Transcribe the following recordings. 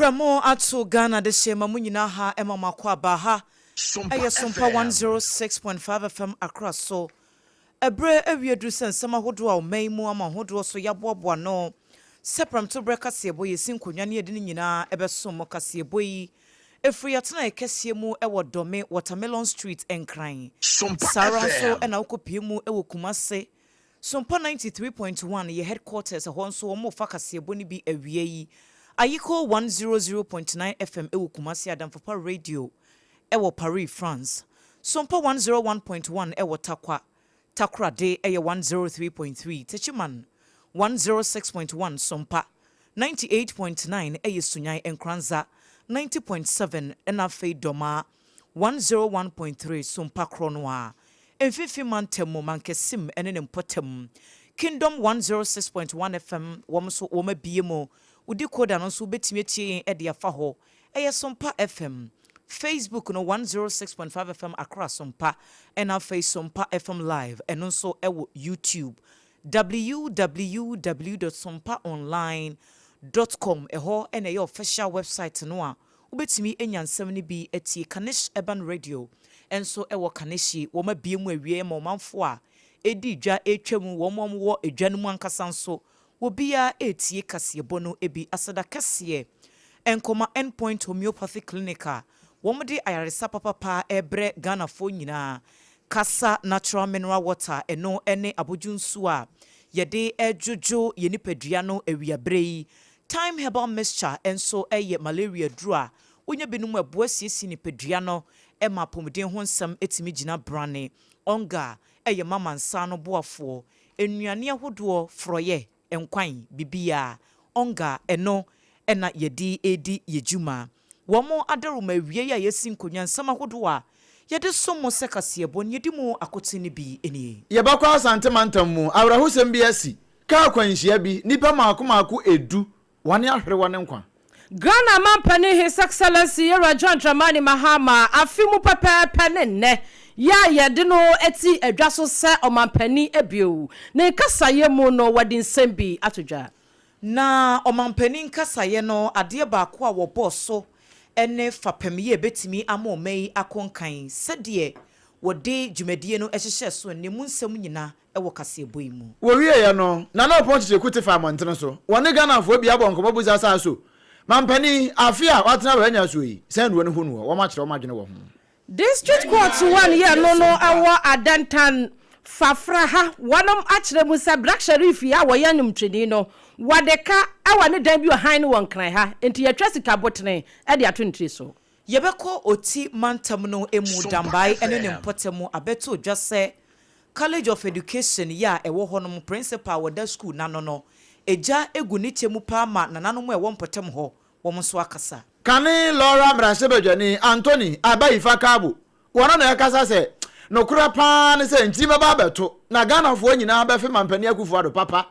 Prɛmo ato Ghana dehye ma mo nyinaa ha ɛma mo akɔ aba ha ɛyɛ Sompa one zero six point five FM Accra so. Bere awie duru sɛ nsɛm ahodoɔ a ɔman yi mu ama ahodoɔ so yɛaboaboa ano sɛ prɛmto berɛ kaseɛbɔ yɛsi nkonnwa ne yɛde ne nyinaa bɛsom mo. Kaseɛbɔ yi firi yɛatenaeɛ kɛseɛ mu wɔ Dome, Watermelon Street, Nkran. Sompa Saa ara nso FM. na wokɔpue mu wɔ Kumase. Sompa ninety three point one yɛ headquarters, ɛhɔ nso wɔrefa kaseɛbɔ no bi awia yi. Ayiko one zero zero point nine FM wɔ Kumase, Adamfopa Radio Ɛwɔ Paris, France. Sompa 101.1 Ɛwɔ Tarkwa, Takoradi Ɛyɛ 103.3 Techiman 106.1 Sompa 98.9 Ɛyɛ Sunyani Nkranza 90.7 Ɛna afei Doma 101.3 Sompa Korɔ no ara Mfinfin Mantam mu Mankasim ɛne ne mpɔtam Kingdom 106.1 FM Wɔn nso wɔn abue mu Wo decoder no nso wobɛtumi atie yɛn de afa hɔ Ɛyɛ Sompa FM, Facebook no one zero six point five FM Accra Sompa ɛna afei Sompa FM Live ɛno nso ɛwɔ YouTube www dot sompa online dot com ɛhɔ ɛna ɛyɛ official website no a wobɛtumi anya nsɛm no bi atie Kanesh Urban Radio ɛnso ɛwɔ Kaneshie wɔn abue mu awie ɛma ɔmanfoɔ a ɛdi dwa ɛretwa mu wɔn a wɔwɔ dwa no mu ankasa nso Obiara retie kaseɛbɔ no bi aseda kɛseɛ nkɔma End Point Homeopathy Clinic a wɔde ayaresa papapa rebrɛ Ghanafoɔ nyinaa, kasa natural mineral water, ɛno ne abodwo nsuo a yɛde dwodwo yɛn nipadua no awia berɛ yi. Thyme Herbal Mixture nso yɛ malaria aduro a wonya bi nom a ɛboa siesie nipadua no ma apɔmuden ho nsɛm tumi gyina brane. Ongar yɛ ma mansa no boafoɔ, nnuane ahodoɔ, forɔyɛ, nkwan, biribiara. Ɔnga, ɛno na yɛde redi yɛn dwuma. Wɔn adawuruma awiei a yɛsi nkonnwa nsɛm ahodoɔ a yɛde som mo sɛ kaseɛbɔ na yɛdi mu akoten no bi nie. Yɛbɛkɔ Asante mantam mu. Awerɛhosɛm bi asi. Kaa kwanhyia bi, nnipa mmaako mmaako edu Wɔn ahwere wɔn nkwa. Ghana Mampanin His Excellency Yowura John Dramani Mahama afe mu pɛpɛɛpɛ ne nnɛ yi a yɛde no ti dwa so sɛ Ɔmampanin bio. Ne nkasaeɛ mu no wɔde nsɛm bi ato dwa. Na Ɔmampanin nkasaeɛ no adeɛ baako a wɔbɔɔ so ne fapem yɛ bɛtumi ama ɔman yi akɔ nkan sɛdeɛ wɔde dwumadie no hyehyɛɛ so no, emu nsɛm nyina wɔ kaseɛbɔ yi mu. Wɔwieeɛ no, Nana Oppong Kyekyerku te faa mmɔntene so. Wɔne Ghanafoɔ pii abɔ nkɔmmɔ busa saa so. Mampanin, afe a watena a wannya asuo yi, sɛn na wɔhu noɔ? Wɔakyerɛ wɔn adwene wɔ ho. District Court one yɛ no no ɛwɔ Adantan, Fafra ha, wɔnom akyerɛ mu sɛ Black Sherif yi a wɔyɛ nwomtweni no, wɔde ka ɛwɔ ne dan bi wɔ hann no wɔ Nkran ha, enti yɛtwa sika botene de ato ne tiri so. Yɛbɛkɔ Oti mantam no mu Dambae ne ne mpɔtam mu abɛto dwa sɛ College of Education yɛ a ɛwɔ hɔ nom Prɛnsipal a wɔda sukuu no ano no gya gu ne kyɛ mu paa ma nananom a ɛwɔ mpɔtam hɔ wɔn nso akasa. Kane Lora mmarahyɛbadwani Anthony Abayifa Kabo wɔno na ɛkasa sɛ nokorɛ paa ne sɛ nkyin bɛba abɛto na Ghanafoɔ nyinaa bɛfe Mampanin Akufo-Addo papa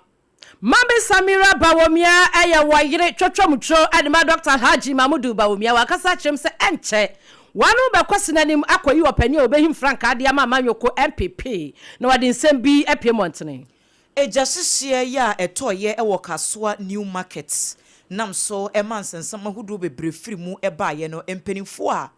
Maame Samira Bawumia yɛ wɔn yere twɔtwɔmutwo ne ma Dɔkta Alhaji Mahmudu Bawumia. Wankasa kyerɛ mu sɛ ɛnkyɛ wɔn ano bɛkɔ sene anim akɔyi ɔpanin a obehim frankaa de ama amanyɔkuo NPP na wɔde nsɛm bi apue mmɔntene. Egyahyehyeɛ yɛ a ɛtɔeɛ wɔ Kasoa New Market nam so ma nsensam ahodoɔ bebree firi mu baeɛ no, mpaninfoɔ a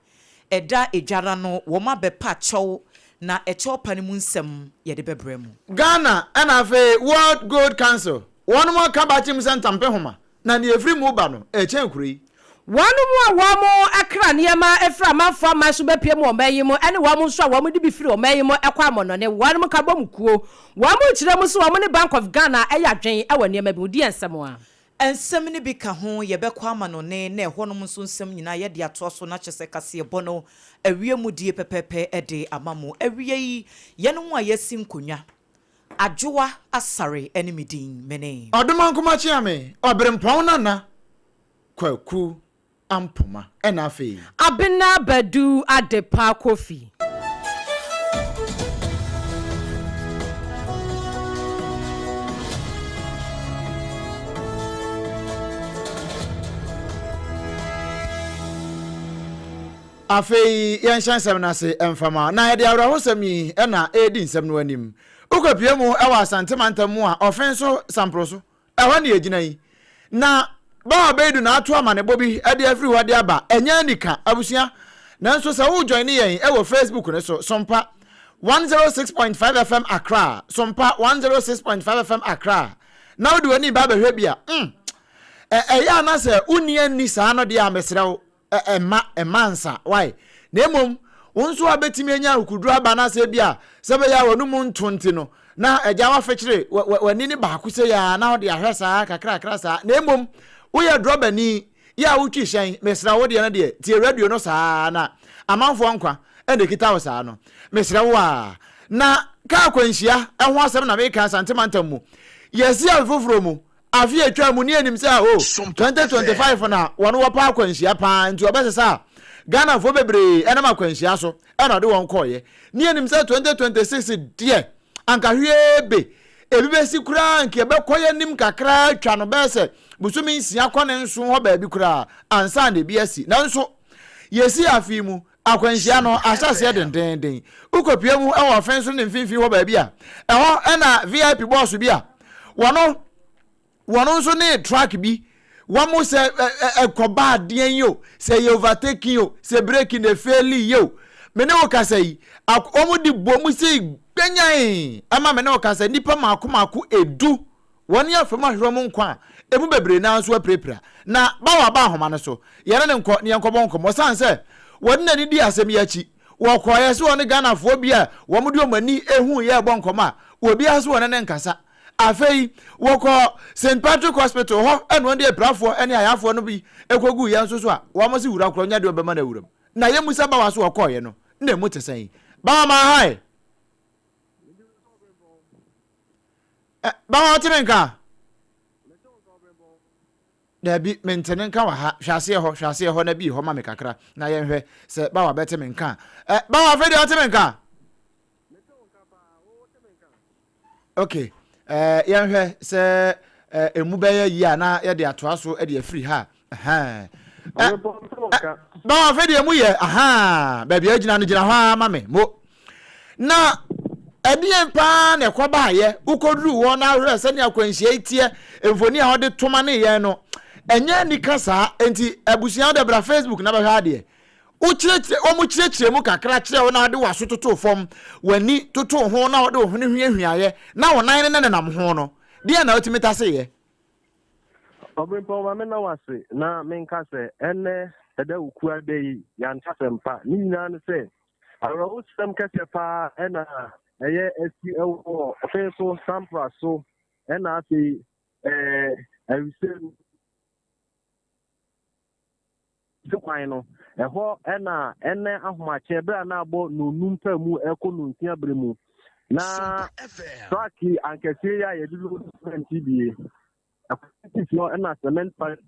Ɛda adwara no wɔma bɛpa kyɛw na ɛkyɛw pa no mu nsɛm yɛde bɛbrɛ mo. Ghana ɛna afei World Gold Council wɔnom ɔka bakyem sɛ ntampe homa na nea ɛfiri mu ba no ɛkyɛn kuro yi. Wɔnom a wɔmo ɛkra nneɛma ɛfiri amanfoɔ aman so bɛpue mu ɔman yi mu ɛne wɔnom nso a wɔmo de bi firi ɔman yi mu ɛkɔ amɔnɔne wɔnom ka bɔ mu kuo. Wɔmo kyerɛ mu sɛ wɔmo ne Bank of Ghana ɛyɛ adwen ɛwɔ nneɛma bi ho. Di yɛn nsɛm a. Nsɛm no bi ka ho, yɛbɛkɔ amanɔne, na ɛhɔnom nso nsɛm nyinaa yɛde atoa so, na kyerɛ sɛ kaseɛbɔ no awie mu die pɛpɛɛpɛ de ama mo. Awiei, yɛnom a yɛasi nkonnwa, Adwoa Asare ne me din, mene. Ɔdomankoma Kyeame, Ɔberempɔn Nana Kwaku. ampoma ɛna afei. Abena Badu Adepa Kofi. Afei yɛnhyɛ nsɛm no ase mfama na yɛde awerɛhosɛm yi na ɛredi nsɛm no anim. Wokɔpue mu wɔ Asante mantam mu a ɔfe nso samporo so Ɛhɔ na yɛgyina yi. Na Baa Abeidu na ato amanebɔ bi de afiri hɔ de aba. Ɛnyɛ anika, abusua. Nanso sɛ wo joine yɛn wɔ Facebook no so, Sompa one zero six point five FM Accra, Sompa one zero six point five FM Accra, na wode w'ani ba bɛhwɛ bi a, mm, ɛyɛ a na sɛ wonni anni saa no deɛ a, mesrɛ wo, Ɛ ɛmma ɛmma nsa. Why? Na mmom wo nso a bɛtumi anya akokoduro aba no asɛ bi a sɛ bɛyɛ a w'anomu nto nti no na agya wafekyere wɛ wɛ w'ani no baako sei ara na wode ahwɛ saa kakrakra saa na mmom woyɛ drɔbani yɛ a wotwi hyɛn mesrɛ wo deɛ no deɛ tie radio no saa ara na amanfoɔ nkwa ɛna ɛkita wo saa no mesrɛ wo a na kaa akwanhyia ɛho asɛm na meka Asante mantam mu yɛsi afe foforɔ mu Afe a etwaa mu ni yɛ nim sɛ aho 2025 na wɔn wɔ pɛ akwanhyia paa nti ɔbɛsesa a Ghana foɔ bebree ɛnam akwanhyia so ɛna ɔde wɔn kɔɔ yɛ. Ni yɛ nim sɛ 2026 deɛ anka hwiee be ebi bɛsi koraa nka ɛbɛkɔ yɛ nim kakraa atwa no bɛyɛ sɛ bosome nsia kɔ ne nson hɔ baabi koraa ansa na ebi asi nanso yɛsi afe yi mu Akwanhyia no ahyɛ aseɛ dendeenden. Wokɔpue mu wɔ ɔfɛn so ne mfimfini hɔ baabi a, ɛhɔ na VIP bɔɔso bi a wɔn wɔn nso ne truck bi wɔn sɛ ɛkɔba adeɛn yi o, sɛ yɛ overtaking o, sɛ breki na efeeli yi o, me ne wo kasa yi, wɔn de bom sei gbanyan ɛma me ne wo kasa nipa mako mako edu. Wɔne afam ahwerew mu nkwa a emu bebree no ara nso apirapira. Na bawo aba nhoma no so. Yɛne no nkɔ na yɛnkɔbɔ nkɔmmɔ. Esiane sɛ wɔde n'ani dii asɛm yi akyi, wɔkɔeɛ sɛ ɔne Ghanafoɔ bi a wɔde wɔn ani huiɛ rebɔ nkɔmmɔ a obiara nso wɔ ne ne nkasa. Afei wɔkɔɔ Saint Patrick Hospital, hɔ na wɔde apirafoɔ ne ayarefoɔ no bi kɔguiɛ nso so a wɔse wura korɔ nyɛ deɛ ɔbɛma no awuram. Na yɛmmisa bawo sɛ ɔkɔeɛ no, na emu te sɛn? Bawo maa hae. Ɛ, bɛhɔ wote ne nka? Daabi, mente ne nka wɔ ha. Hwɛ aseɛ hɔ, hwɛ aseɛ hɔ na bie hɔ ma me kakra, na yɛnhwɛ sɛ Bawa bɛte me nka. Ɛ, Bawa, afei deɛ wote me nka? Ok, ɛ, yɛnhwɛ sɛ ɛ, emu bɛyɛ yie a na yɛde atoa so de afiri ha a. na afei deɛ mu yɛ ahaa baabi a gyina no gyina hɔ ara ma me mo na ɛdeɛn paa na ɛkɔ baayɛ wokɔduru hɔ na ahwerɛ sɛdeɛ akwanhyia yi teɛ mfoni a wɔde toma ne yɛn no ɛnyɛ nika saa nti abusua wode bra facebook na bɛhwɛ adeɛ wokyerɛkyerɛ wɔn kyerɛkyerɛ mu kakra kyerɛ wo na wode waso toto fam w'ani toto ho na wode wo hwene hwiahwiaeɛ na wo nan no ne nenam ho no deɛ na wotumi taseyɛ Obirɛmpɔn ma mena wo ase na menka sɛ ɛnnɛ Ɛdawukuaa da yi yɛantasɛm pa. Ne nyinaa ne sɛ awerɛhosɛm kɛseɛ paa ɛna ɛyɛ asi ɛwɔ ɔfe so sampra so ɛna afei ɛɛ awisɛm Dze kwan no, hɔ na nna ahomakyɛ ber a nna abɔ nonum paa mu kɔ nonsia ber mu, na truck ankɛse yi a yɛdze load cement yi bi, kwan no tsitsir no nna cement factory,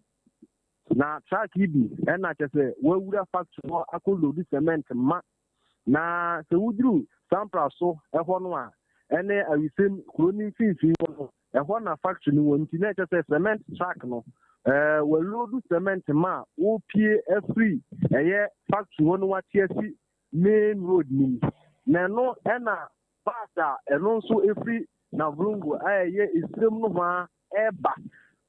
na truck yi bi nna kyerɛ dɛ woewura factory hɔ akɔ load cement ma. Na sɛ wodur Sampras so hɔ no a, ɛne Awisim kurow no mfinimfin hɔ no, Ɛhɔ na factory no wɔ nti na ɛkyɛ sɛ cement truck no wɔaloadu cement ma a wopie afiri ɛyɛ factory hɔ no wate asi main road no mu. Na ɛno ɛna bus a ɛno nso ɛfiri Navrongo a ɛyɛ Esrem no hɔ a ɛba.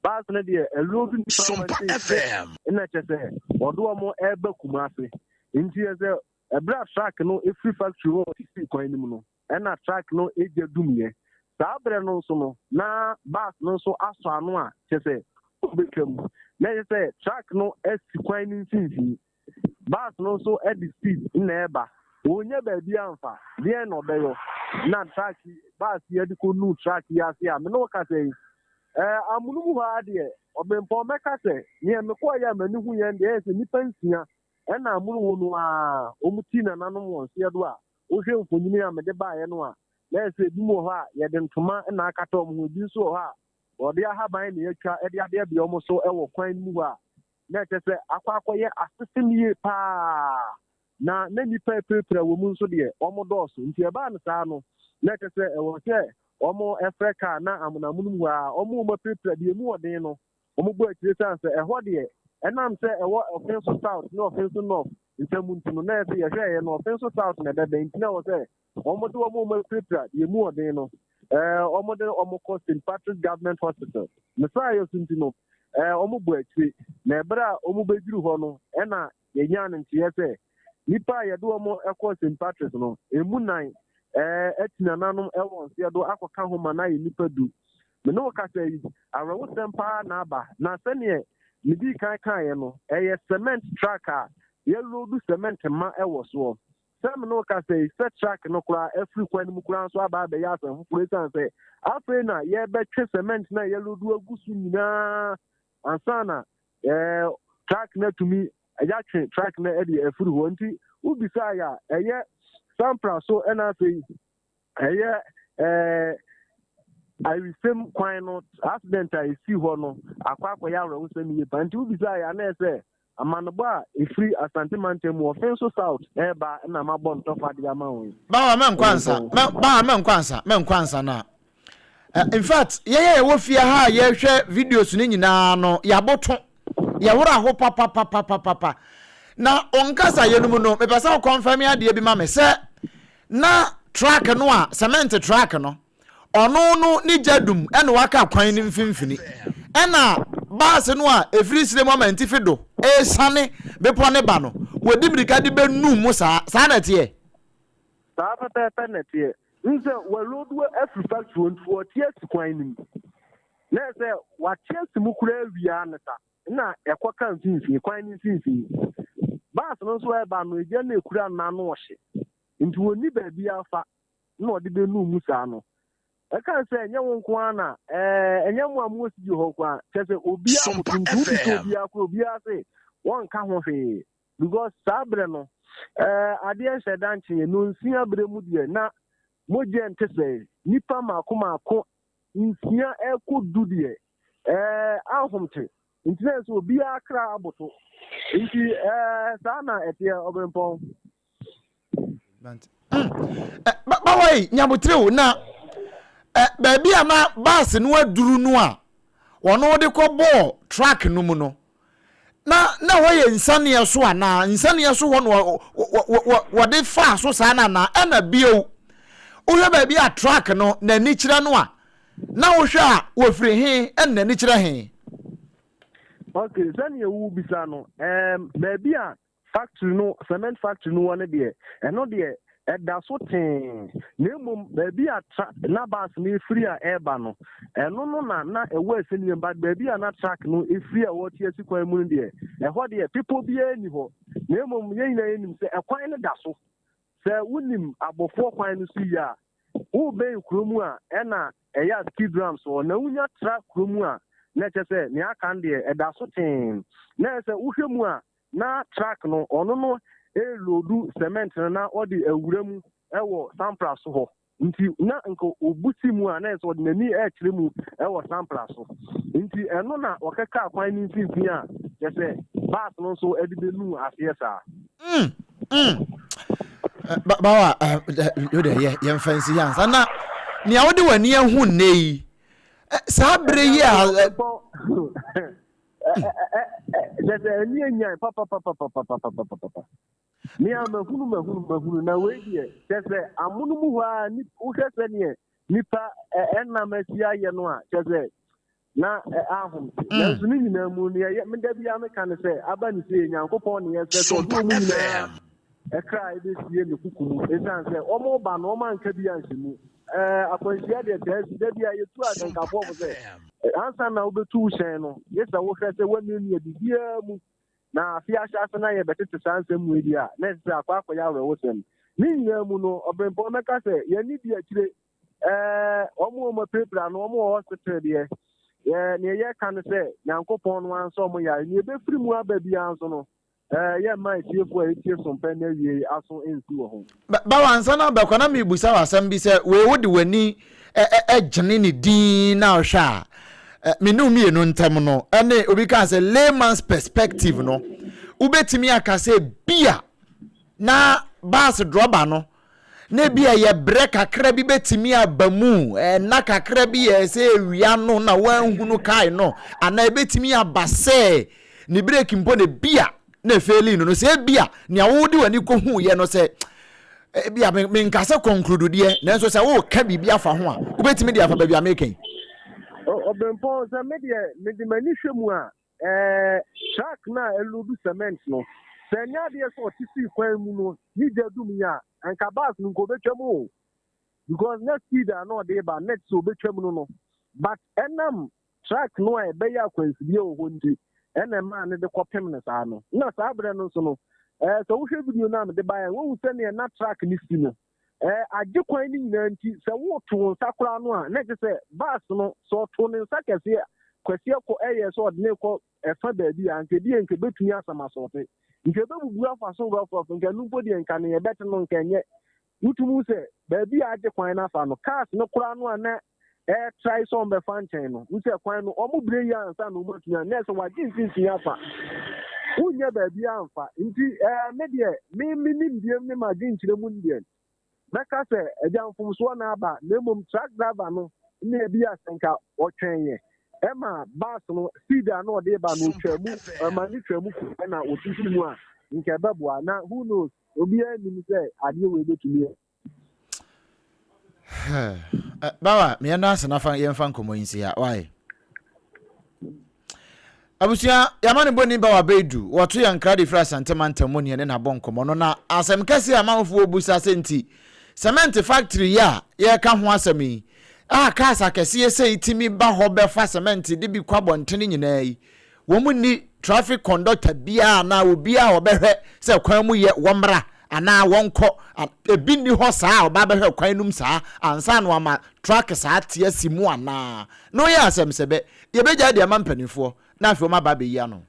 Bus no deɛ ɛloadu nipa ma FM. ɛna kyɛ sɛ wɔde wɔn ɛba Kumase. Nti ɛsɛ ɛberɛ a truck no ɛfiri factory hɔ sisi kwan no mu no ɛnna truck no gya dumiiɛ. Saa berɛ no nso no, na bus no nso asɔ ano a kyerɛ sɛ ɔbɛtwa mu. Na ɛsɛ sɛ truck no si kwan no mfimfini. Bus no nso de speed na ɛreba. Ɔnnya baabi amfa. Deɛn na ɔbɛyɔ? Na truck yi, bus yi de kɔnu truck yi ase a, me ne wo kasa yi, ɛɛ, amonom hɔ ara deɛ, ɔbempɔn mɛka sɛ, neɛ mekɔeɛ a m'ani huiɛ no deɛ, ɛyɛ sɛ nnipa nsia ɛnna amonom hɔ no ara, wɔn ti nananom wɔn seɛ do a Wohwɛ mfonini a mede baeɛ no a, na ayɛ sɛ ebinom wɔ hɔ a yɛde ntoma na akata wɔn ho, ebi nso wɔ hɔ a wɔde ahaban na yɛatwa de abeabea wɔn so wɔ kwan no mu hɔ a, na ɛkyerɛ sɛ akɔ akɔyɛ asesem yie pa ara. Na na nnipa apirapira wɔ mu nso deɛ, wɔdɔɔso. Nti ɛbaa no saa no, na ɛkyerɛ sɛ ɛwɔ sɛ wɔfrɛ kaa na amonoamonom hɔ ara, wɔma wɔn apirapira deɛ emu wɔ den no, Wɔbɔ akyire sane sɛ ɛhɔ deɛ ɛnam sɛ ɛwɔ ɔfe so south ne ɔfe so north ntam nti no na ɛsɛ yɛhwɛɛyɛ no ɔfe so south na ɛbɛbɛn nti na ɛwɔ sɛ wɔde wɔn a wɔapirapira deɛ mu ɔden no ɛɛ wɔde wɔn kɔ St Patrick's Government Hospital ne saayɛ so nti no ɛɛ wɔbɔ akyire na ɛberɛ a wɔbɛduru hɔ no ɛna Yɛnyaa no nteɛ sɛ, nnipa a yɛde wɔn kɔɔ St. Patrick's no, ɛmu nnan ati nananom wɔ nseɛ do akɔka ho ma no ayɛ nnipa du. Me ne wo kasa yi, awerɛhosɛm pa ara na aba, na sɛdeɛ medii kan kaeɛ no, ɛyɛ cement truck a yɛloodu cement ma wɔ soɔ. Sɛ me ne wo kasa yi, sɛ truck no koraa afiri kwan no mu koraa nso aba abɛyɛ asɛm foforɔ ɛsiane sɛ afei na yɛrebɛtwe cement no a yɛloodu agu so nyinaa ansa na ɛɛ truck no atumi yɛatwe truck no ɛde afiri hɔ nti wobisaa yɛ a ɛyɛ sampra so ɛna afei ɛyɛ ɛɛ awisɛm kwan no accident a ɛsi hɔ no akɔ akɔyɛ awerɛhosɛm yie pa nti wobisaa yɛ a na ɛsɛ Amanebɔ a ɛfiri Asante mantam mu Offinso South reba na mabɔ ntɔkwa de ama wo yi. Bawa mɛnkɔ ansa, bawa mɛnkɔ ansa, mɛnkɔ ansa na In fact, yɛn a yɛwɔ fie ha a yɛhwɛ videos no nyinaa no, yɛaboto, yɛwora ho papapapapapa. Na wo nkasaeɛ no mu no, mepɛ sɛ wo confirm adeɛ bi ma me sɛ na truck no a, cement truck no, ɔno no ne gya dum na waka kwan no mfimfini, ɛna baase no a ɛfiri serɛ mu amantifi do resiane bepɔ no ba no, wɔdi mmirika de bɛnum mo saa. Saa na ɛteɛ? Saa pɛpɛɛpɛ na ɛteɛ. Wohu sɛ wɔaloaduo afiri factory hɔ nti wɔte asi kwan no mu. Na ɛyɛ sɛ wɔate asi mu koraa awie ara ne sa na ɛkɔka mfimfini, kwan no mfimfini. Baase no nso ɛreba no, gya no ɛkura no n'ano ɔhye. Nti wɔnni baabiara fa. na ɔde benuu mu saa no, ɛkae sɛ, Ɛnyɛ wo nko ara na, ɛɛ, ɛnyɛ mo a mowɔ studio hɔ nko ara, kyerɛ sɛ obiara a wɔtontom bi sɛ obiara koro, obiara se wɔnka ho hwee, because saa berɛ no, ɛɛ, adeɛ nhyɛ da nkyee, nnɔnsia berɛ mu deɛ, na mogya nte sɛɛ, nnipa mmaako mmaako, nsia ɛrekɔ du deɛ, ɛɛ, ahom te, nti na ɛsɛ sɛ obiara kra aboto, nti, ɛɛ, saa na ɛteɛ, Ɔberempɔn. bawa yi nyabotere o na ɛ baabi a na baasi no aduru no a wɔn de kɔ bɔɔ truck no mu no na na hɔ yɛ nsaneɛ so a na nsaneɛ so hɔ na wɔde faa so saa na na ɛna bio wohwɛ baabi a truck no n'ani kyerɛ no a na wohwɛ a wɔfiri he ɛna n'ani kyerɛ he. ok sɛdeɛ wobisa no um, baabi a Factory no, cement factory no wɔ no deɛ, ɛno deɛ ɛda so tee, na mmom baabi a tra, na bus no firi a ɛreba no, ɛno no na na ɛwɔ asɛnniam, but baabi a na truck no firi a wɔte asi kwan mu no deɛ, ɛhɔ deɛ bepɔ biara nni hɔ, na mmom yɛn nyinaa yɛnim sɛ ɛkwan no da so. Sɛ wonim abɔfoɔ kwan no so yie a, wobɛn kuro mu a, ɛna ɛyɛ a skid ramp so hɔ, na wonya tra kuro mu a, na ɛkyɛ sɛ nea aka no deɛ ɛda so tee, na ɛyɛ sɛ wohwɛ mu a, Na truck no ɔno no reloadu cement no na ɔde awura mu wɔ sampla so hɔ. Nti na nka obu si mu a na ɛsɛ ɔde n'ani ɛrekyerɛ mu wɔ sampla so. Nti ɛno na ɔka kaa kwan no mfimfini a kyerɛ sɛ bus no nso de bɛnu aseɛ saa. Mm, mm. Eh, ba, bawa, eh, yo de yɛ, yɛ mfa nsi hansa. Na, nea wode w'ani ahu nnɛ yi, eh, saa bere yi a... sɛ sɛ ɛni enyan papapapapapapapapa ne a mahunu mahunu mahunu na wei deɛ sɛ sɛ amono mu hɔ a ni wohwɛ sɛ neɛ nipa ɛnam asi ayɛ no a sɛ sɛ na ahom te mm. nanso ne nyinaa mu neɛ meda biara meka ne sɛ aba ne sɛ nyankopɔn ne yɛsɛ sɛ ɔde ɔmu nyinaa kra a ebesie ne kuku mu esiane sɛ wɔreba no wɔanka bi anhyɛ mu. Akwanhyia deɛ taa si. Da bi a yɛtu ahyɛnkafo fo sɛ, ansa na wobetu wo hyɛn no, gye sɛ wohwɛ sɛ woannuannua biribiara mu. Na afe ahyɛ ase na yɛbɛtete saa nsɛmmua bi a na ɛsɛ sɛ akɔ akɔyɛ awerɛhosɛm. Ne nyinaa mu no, ɔbirɛmpɔn bɛka sɛ, Yɛanni bi akyire. Wɔn a wɔapirapira no, wɔwɔ hospital deɛ. Nea yɛka ne sɛ, Nyankopɔn no ansɔ wɔn yare. Nea ebefiri mu aba biara nso no, Ɛɛ, yɛmma atiefo a wɔatie som pɛ na awiei aso nsi wɔ ho. Bawo ansa na abɛkɔ na merebisa wo asɛm bi sɛ wei wode w'ani gyene ne dinn na wohwɛ a, me ne wo mmienu ntam no ne obi kaa sɛ layman's perspective no wobɛtumi aka sɛ bi a na bus drɔba no na ebia ɛyɛ brɛ kakra bi bɛtumi aba mu, ɛna kakra bi yɛ sɛ awia no na woanhunu kae no, anaa ɛbɛtumi aba sɛ ne breki mpo na ebia na efeeli no no, sɛ ebia nea wode w'ani kɔhuiɛ no sɛ ebia menka sɛ kɔnklududeɛ nanso sɛ woreka biribi afa ho a wobɛtumi de afa baabi a meka yi. Ɔbɛmpɔn sɛ medeɛ mede m'ani hwɛ mu a Ɛɛ, truck no a ɛloodu cement no, sɛ ɛnyɛ adeɛ sɛ ɔte sii kwan mu no ne gya dum yɛ a, anka bus no nka ɔbɛtwam o. Because na speed a na ɔde ba next sɛ ɔbɛtwam no no. But ɛnam truck no a ɛbɛyɛ akwansideɛ wɔ hɔ nti ɛna ɛmaa no de kɔpem no saa no. Na saa berɛ no nso no, ɛɛ sɛ wohwɛ video no a mede baeɛ a, woahu sɛdeɛ na truck no si no. Eh, agye kwan no nyinaa nti, sɛ woto wo nsa koraa no a, na ɛkyɛ sɛ bus no, sɛ ɔto ne nsa kɛse a, Kwasiɛ kɔ ɛyɛɛ sɛ ɔde no kɔ ɛfa baabi a, anka ebi yɛ nka ebetumi asam asɔɔte. Nka ebebubu afa so rɔfrɔf, nka ɛno mpo deɛ nka nea ɛbɛte no nka ɛnyɛ. Wotumi hu sɛ baabi a agye kwan no afa no, cars no koraa no a na ɛretrae sɛ wɔbɛfa nkyɛn no, hu sɛ kwan no wɔbrɛ yie ansa na wɔatumi a, na ɛsɛ wɔagye mfimfini afa. Wonyɛ baabi amfa. Nti ɛɛ me deɛ, me me nimdeɛm ne m'adwenkyerɛ mu deɛ, mɛka sɛ agya mfomsoɔ na aba, na mmom truck driver no na ebi a sɛ nka ɔtwɛn yɛ ɛma bus no speed a na ɔde ba no otwa mu, ɛma ne twa mu kɔ ɛna ɔtwitwi mu a, nka ɛbɛboa. Na who knows, obiara nim sɛ adeɛ wɔ ebetumi yɛ. bawa meyɛ no ase nafa yɛmfa nkɔmmɔ yi nsi ha wae abusua yɛama no bɔni bawa bɛdu wɔto yɛ nkra de firi asante mantam mu neɛ ne nabɔ nkɔmmɔ no na asɛm kɛseɛ a mahofoɔ bu sa sɛ nti cement factory yi a yɛreka ho asɛm yi a cars akɛseɛ sɛ itimi ba hɔ bɛfa cement de bi kɔ abɔntene nyinaa yi Wɔn nni traffic conductor biara anaa obiara a ɔbɛhwɛ sɛ kwan mu yɛ, wɔmmra anaa wɔnkɔ. Ebi nni hɔ saa a ɔba abɛhwɛ kwan no mu saa ansa na wama truck saa te asi mu anaa. Na ɔyɛ asɛm sɛ bɛ, yɛbɛgyae de ama mpanimfoɔ na afei wɔaba abɛyi ano.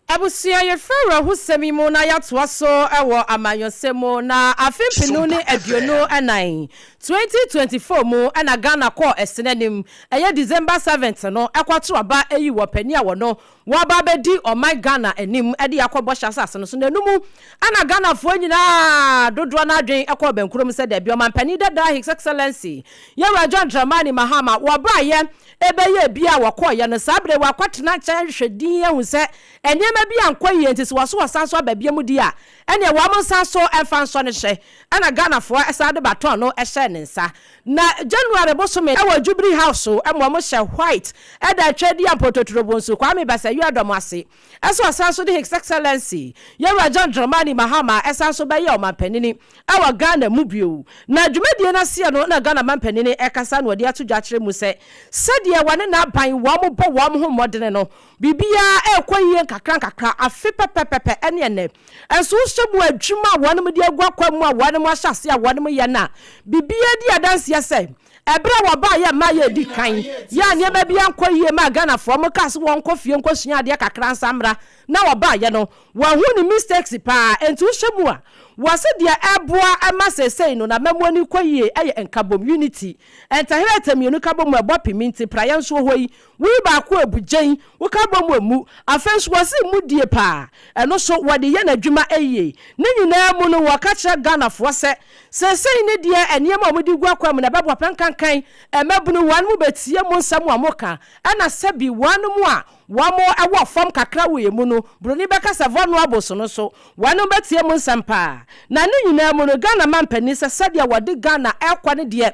Abusua, yɛfiri awerɛhosɛm yi mu na yɛatoa so wɔ amanyɔsɛm mu. Na afe mpenu ne aduonu ɛnan, 2024, mu na Ghana kɔɔ ɛsene anim. ɛyɛ December seventh no kɔto aba yi wɔ panin a wɔno wɔaba abɛdi ɔman Ghana anim de akɔ bɔhyɛ asase no so na ɛno mu na Ghanafoɔ nyinaa dodoɔ no adwen kɔɔ bɛnkuro mu sɛ dabi ɔmanpanin dadaa His Excellency Yawura John Dramani Mahama wɔbaeɛ bɛyɛɛ biaa wɔkɔeɛ no saa berɛ yi wɔakɔtena nkyɛn ahwehwɛ din ahu sɛ nneɛma bi ankɔ yie nti sɛ wɔso wɔsan so aba biom deɛ a ɛneɛ wɔn nsan so mfa nsɔ no hyɛ na Ghanafoɔ san de baton no hyɛɛ ne nsa Na January bosome wɔ Jubilee House hɔ ma wɔhyɛ white da Twɛdeɛ a Mpɔtɔturo Bonsu Kwame Basawiaa dɔm ase sɛ ɔsan so de His Excellency Yawura John Dramani Mahama san so bɛyɛ Ɔmanpanini wɔ Ghana mu bio. Na dwumadie no aseɛ no na Ghana Manpanini kasa na ɔde ato dwa akyerɛ mu sɛ sɛdeɛ wɔne n'aban wɔbɔ wɔn ho mmɔdene no Biribiara rekɔ yiye nkakrankakra, afe pɛpɛpɛpɛ ne ɛnnɛ. Nanso wohwɛ mu a, adwuma a wɔnom de agu akwan mu a wɔnom ahyɛ aseɛ a wɔnom yɛ no a, biribiara di adanseɛ sɛ, ɛberɛ a wɔbaeɛ mmaa yɛ adi kan yɛ a nneɛma biara nkɔ yiye maa Ghanafoɔ. Wɔkaa sɛ wɔnkɔ fie nkɔsua adeɛ kakra nsa mmra na wɔbaeɛ no wɔahu ne mistakes paa. Enti wohwɛ mu a, wɔse deɛ ɛboa ma seesei no n'amammuo ani kɔ yiye yɛ nkabom, unity. Ntaherɛtɛ mmienu ka bom a ɛbɔ pemminti, praeɛ nso wɔ hɔ yi. Woyi baako a, bugyen, woka bom a, mu. Afei nso, wɔse mudie paa. Ɛno nso, wɔde yɛ n'adwuma yie. Ne nyinaa mu no, wɔka kyerɛ Ghanafoɔ sɛ, seesei no deɛ, nneɛma a wɔde gu akwan mu no, ɛbɛboa pɛ. Nkankan mmabunu, wɔnom bɛtie mo nsɛm a moka. Ɛna sɛbi, wɔnom a wɔwɔ fam kakra wɔ yɛn mu no, Buroni bɛka sɛ vulnerables no nso, wɔnom bɛtie mo nsɛm paa. Na ne nyinaa mu no, Ghana mampanin sɛ sɛdeɛ wɔde Ghana rekɔ no deɛ,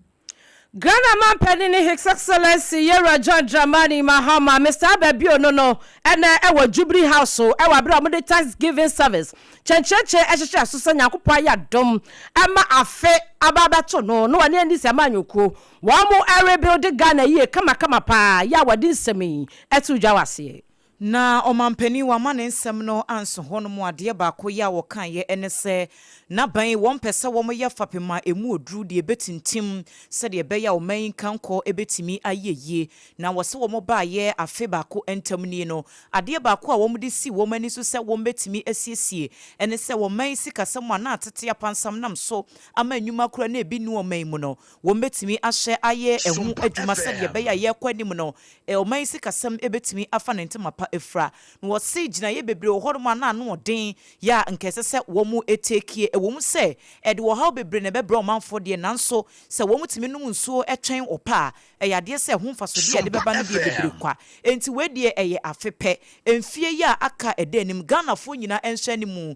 Ghana Manpanin ne His Excellency Yɛn Wura John Dramani Mahama, Mister Albert Bio no no ɛnɛ ɛwɔ Jubilee House ɛwɔ abere a wɔde Thanksgiving Service kyɛnkyerɛkyerɛ ɛhyehyɛɛ so sɛ Nyankopɔn ayɛ adom ɛma afe aba abɛto no na wɔne Anisi Amanyɔkuo wɔn ɛrebuilde Ghana yie kamakama paa yɛ a wɔde nsɛm yi ɛto dwa wɔ aseɛ. Na ɔmanpanin wamma ne nsɛm no anso hɔnom. Adeɛ baako yɛ a wɔkaeɛ ne sɛ, na bɛn wɔmpɛ sɛ wɔyɛ fapem a ɛmu ɔduru deɛ ɛbɛtintim sɛdeɛ ɛbɛyɛ a ɔman yi nkankɔ bɛtumi ayɛ yie. Na wɔse wɔbaeɛ afe baako ntam nie no, adeɛ baako a wɔde sii wɔn ani so sɛ wɔbɛtumi asiesie ne sɛ ɔman yi sikasɛm a na atete apansam nam so ama nnwuma koraa na ɛbi nni ɔman mu no, Wɔbɛtumi ahyɛ ayɛ ɛho adwuma sɛdeɛ ɛbɛyɛ a yɛrekɔ anim no, ɔman yi sikasɛm bɛtumi afa ne ntoma pa afira. Na wɔse gyinaeɛ bebree wɔ hɔnom a na ano wɔ den yɛ a nka ɛsɛ sɛ wɔteekie. Ɛwom sɛ ɛde ɔhaw bebree na ɛbɛbrɛ ɔmanfoɔ deɛ, nanso sɛ wɔtumi nom nsuo twɛn ɔpɛ a, ɛyɛ adeɛ sɛ ɛho mfasodeɛ a ɛde bɛba no deɛ bebree kwa. Enti wei deɛ ɛyɛ afe pɛ. Mfeɛ yi a aka a ɛda anim, Ghanafoɔ nyinaa nhyɛ animu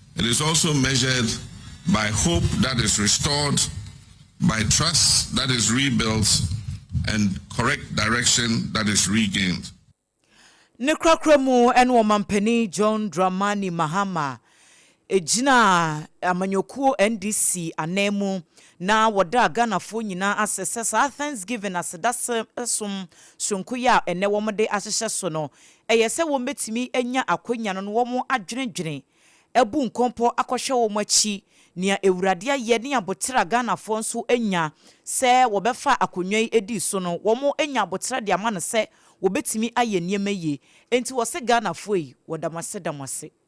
It is also measured by hope that is restored, by trust that is rebuilt, and correct direction that is regained. Ne korakora mu ne Ɔmampanin John Dramani Mahama gyinaa amanyɔkuo NDC ananmu na wɔdaa Ghanafoɔ nyinaa ase sɛ saa Thanksgiving, Asedase som soronko yi a ɛnnɛ wɔde ahyehyɛ so no, Ɛyɛ sɛ wɔbɛtumi anya akwanya no na wɔadwendwene, abu nkɔmpɔ akɔhwɛ wɔn akyi, nea Awurade ayɛ ne aboterɛ a Ghanafoɔ nso anya sɛ wɔbɛfa akonnwa yi dii so no, wɔanya aboterɛ de ama no sɛ wɔbɛtumi ayɛ nneɛma yie. Enti wɔse Ghanafoɔ yi, wɔda mo ase, da mo ase.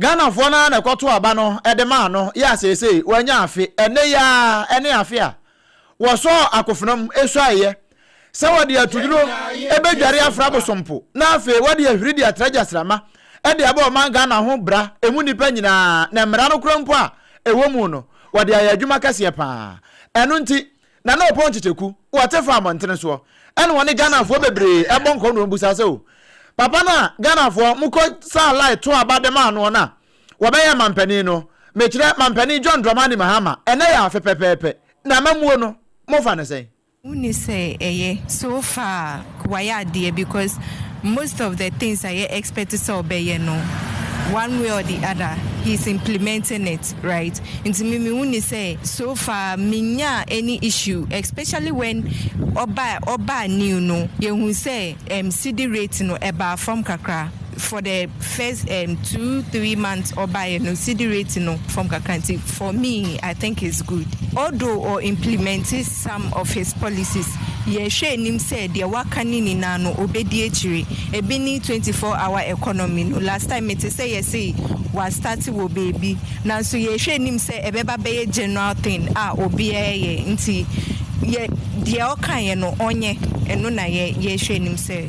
Ghanafoɔ no ara na ɛkɔtoo aba no de maa no yɛ a seesei wanya afe. Ɛnnɛ yi ara ne afe a wɔsɔɔ akofena mu suaeɛ sɛ wɔde atuduro bɛdware afra abosompo na afei wɔde ahuri de atra gyasramma de abɔ ɔman Ghana ho bra, ɛmu nnipa nyinaa, na mmara no korɔ mpo a ɛwɔ mu no wɔde ayɛ adwuma kɛseɛ pa ara. Ɛno nti Na na ɔpɔn kyekyɛku, wɔte fa abɔntene soɔ, ɛna wɔne Ghanafoɔ bebree bɔ nkɔ na wɔn bisa sɛ o, papa no a Ghanafoɔ mo kɔ saa line to aba de maa noɔ no a wɔbɛyɛɛ mampanin no, mekyerɛ mampanin John Dramani Mahama, ɛnɛ yɛ afe pɛpɛɛpɛ, na amamuo no mo fa no sɛn? Wonni sɛ ɛyɛ, so far. wayɛ adeɛ because most of the things a yɛ expect sɛ ɔbɛyɛ no one way or the other he is implementing it right nti me me huni sɛ so far me nyaa any issue especially when ɔbaa ɔbaa new no yɛ hu sɛ ɛm sidi rate no ɛbaa fam kakra. for the first um, two three months ɔbaeɛ no cd rate no fam kakra nti for me i think it's good although or implement some of his policies yɛhwɛ anim sɛ deɛ waka ne nyinaa no ɔbɛdi akyire ebi ne 24 hour economy no last time mete sɛ yɛse wastarte wɔ baabi nanso yɛhwɛ anim sɛ ɛbɛba bɛyɛ general thing a obiara yɛ nti yɛ deɛ ɔkaeɛ no ɔnyɛ ɛno na yɛhwɛ anim sɛ.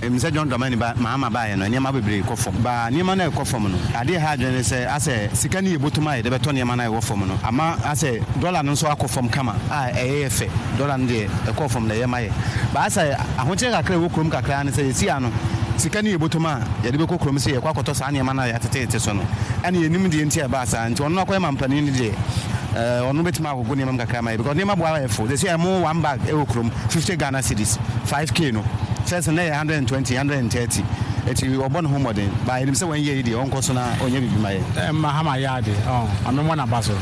Ɛnim sɛ John Dramani ba Mahama baeɛ no, nneɛma bebree kɔ fam. Ba nneɛma no a ɛkɔ fam no, adeɛ a ɛha adwene ne sɛ asɛ sika no yɛ bottom a yɛde bɛtɔ nneɛma no a ɛwɔ fam no. Ama asɛ dɔla no nso akɔ fam kama a ɛyɛ yɛ fɛ. Dɔla no deɛ, ɛkɔɔ fam na ɛyɛ ma yɛ. Ba asɛ ahokyerɛ kakra a ɛwɔ kurom kakra ara ne sɛ seesei no, sika no yɛ bottom a yɛde bɛkɔ kurom sɛ yɛrekɔ akɔtɔ saa nneɛma no a yɛatetete so no. Ɛnna yɛnnim deɛ nti a ɛbaa saa. Nti ɔno akɔyɛ mampanin no deɛ, ɛɛ ɔno bɛtumi. Akɔkɔ nneɛma mu kakra ama yɛ because nneɛma bo ara yɛ fo. Seesei a mo one bag wɔ kurom fifty Ghana cedis, five K no. First no na ɛyɛ hundred and twenty, hundred and thirty. Nti ɔbɔ ne ho mmɔden but yɛnim sɛ wɔn yɛ yi deɛ ɔnkɔ so na ɔnyɛ biribi ma yɛn. Mahama yɛ ade oh Maame mmɔ naba so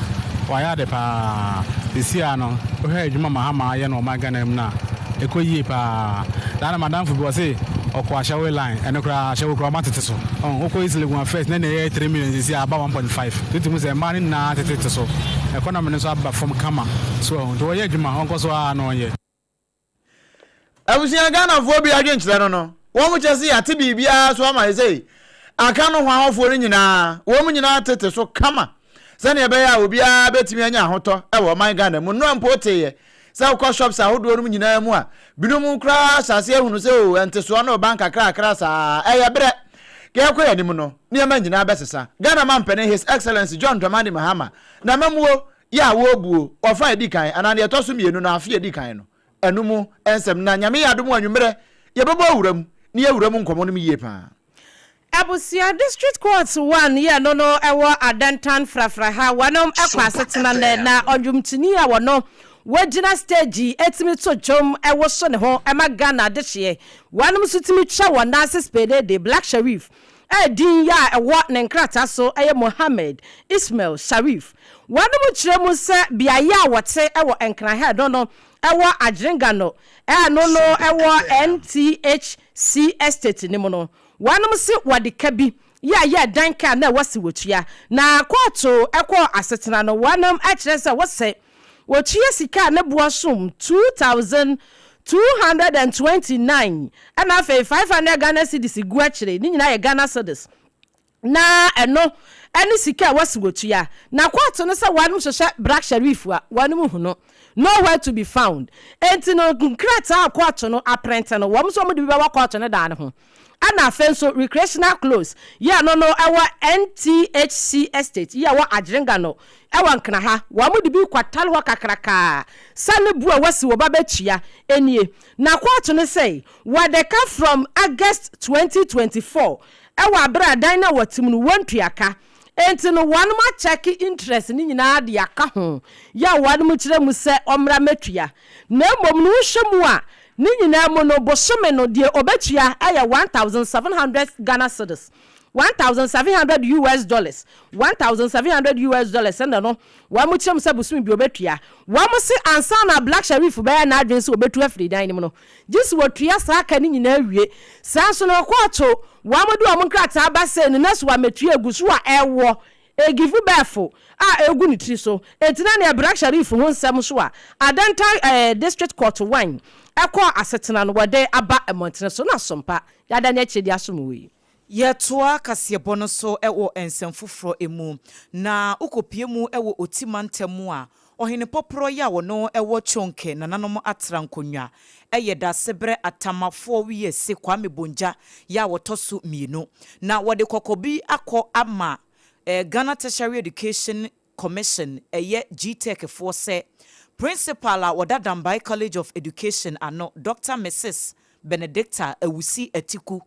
wayɛ ade paa seesei a no wohwɛ adwuma Mahama ayɛ no wɔ ɔman Ghana mu no a ɛkɔ yie paa that na madamfo bi ɔse ɔkɔ ahyɛwoe line ɛno koraa ahyɛwoe koraa ɔma tete so oh wokɔ East Legon a first na ɛyɛ three million seesei a aba one point five. Tete mu sɛ mmaa no nyinaa tetete so. Economy no nso aba fam kama. So ahu? Nti wɔyɛ adwuma, wɔnkɔ so ara na wɔnyɛ. Abusua Ghanafoɔ bi adwenkyerɛ no no, wɔn kyɛ se yɛate biribiara so ama sesei. Aka no ho ahɔfoɔ no nyinaa, wɔn nyinaa tete so kama sɛdeɛ ɛbɛyɛ a obiara bɛtumi anya ahotɔ wɔ ɔman Ghana mu. Nnora mpo woteeɛ Sɛ wokɔ shops ahodoɔ nom nyinaa mu a, binom koraa hyɛ aseɛ hunu sɛ oo ntesoɔ no reba nkakrakra saa. Ɛyɛ berɛ. Deɛ ɛrekɔ yɛn anim no, nneɛma nyinaa bɛsesa. Ghana Mampanin His Excellency John Dramani Mahama, N'amammuo yɛ a wɔrebuo, ɔfa a ɛdi kan anaa deɛ ɛtɔ so mmienu no, afe a ɛdi kan no, ɛno mu nsɛm na Nyame yɛ adom a anwummerɛ yɛbɛbɔ awura mu na yɛawura mu nkɔmmɔ nom yie pa ara. Abusua District Court one yɛ no no wɔ Adantan frafra ha wɔnom kɔ asetena nɛ na ɔnwomtoni a wɔno wɔgyina stage tumi to dwom woso ne ho ma Ghana adehyeɛ wɔnom nso tumi twa wɔn nan ase spedeede Black Sharif a din yɛ a ɛwɔ ne nkrataa so yɛ Mohammed Ismail Sharif wɔnom kyerɛ mu sɛ beaeɛ a wɔte wɔ Nkran ha no no wɔ Adjringano a ɛno no wɔ NTHC Estate no mu no Wɔnom nso wɔde ka bi yɛ yɛɛ dan ka a na ɛwɔ se wɔtua. Na kɔɔto kɔɔ asetena no, wɔnom kyerɛ sɛ wɔ sɛ wɔtua sika a ne boɔ som two thousand two hundred and twenty nine ɛna afei five hundred Ghana cedis gu akyire, ne nyinaa yɛ Ghana cedis, na ɛno ne sika a ɛwɔ se wɔtua. Na kɔɔto no sɛ wɔnom hwehwɛ Brak Sharif a, wɔnom hunu. Nowhere to be found. Enti no nkrataa a kɔɔto no aprente no, wɔn nso wɔde bi bɛwɔ kɔɔto no dan no ho. Ɛna afei nso Recreational Close yi a ɛno no ɛwɔ NTHC Estate yi a ɛwɔ Agyenga no ɛwɔ Nkena ha, wɔde bi kɔtare hɔ kakrakaa sɛ ne bo a wɔasi wɔ ba bɛtua nie. Na kɔɔto no sɛi, wɔde ka from August twenty twenty four ɛwɔ abere a dan no a wɔte mu no wɔntua ka. Enti no wɔnom akyɛke interest no nyinaa de aka ho yɛ a wɔnom kyerɛ mu sɛ ɔmmra mɛtua. Na mmom no wohwɛ mu a ne nyinaa mu no bosome no deɛ ɔbɛtua yɛ one thousand seven hundred Ghana cedis, one thousand seven hundred US dollars, one thousand seven hundred US dollars ɛna no wɔnom kyerɛ mu sɛ bosome biara ɔbɛtua. Wɔnom se ansa na Black Sherif bɛyɛ n'adwene sɛ ɔbɛtu afiri dan no mu no gye sɛ wɔtua saa ka no nyinaa wie. Saa ara nso na wɔkɔɔto wɔn a wɔde wɔn nkrataa ba sei no na so wɔamɛtua agu so a ɛwɔ Egifo bɛɛfo a ɛgu ne tiri so. Enti na nea Brak Sharif ho nsɛm nso a Adenta District Court wan ɛkɔɔ asetena no wɔde aba mmɔntene so no asompa. Yɛada ne akyire de asom wɔ yi. Yɛtoa kaseɛbɔ no so wɔ nsɛm foforɔ mu, na wokɔpue mu wɔ Oti mantam mu a, Ɔhene Pɔprɔ yi a ɔno wɔ Chonke nananom atra nkonnwa yɛ Dasebrɛ Atamafoɔ Wiase Kwame Bongya yɛ a wɔtɔ so mmienu. Na wɔde kɔkɔbi akɔ ama Ghana Tertiary Education Commission ɛyɛ Gtech foɔ sɛ Principal a ɔda Dambai College of Education ano, Dɔkta Misis Benedicta Awusi Atiku,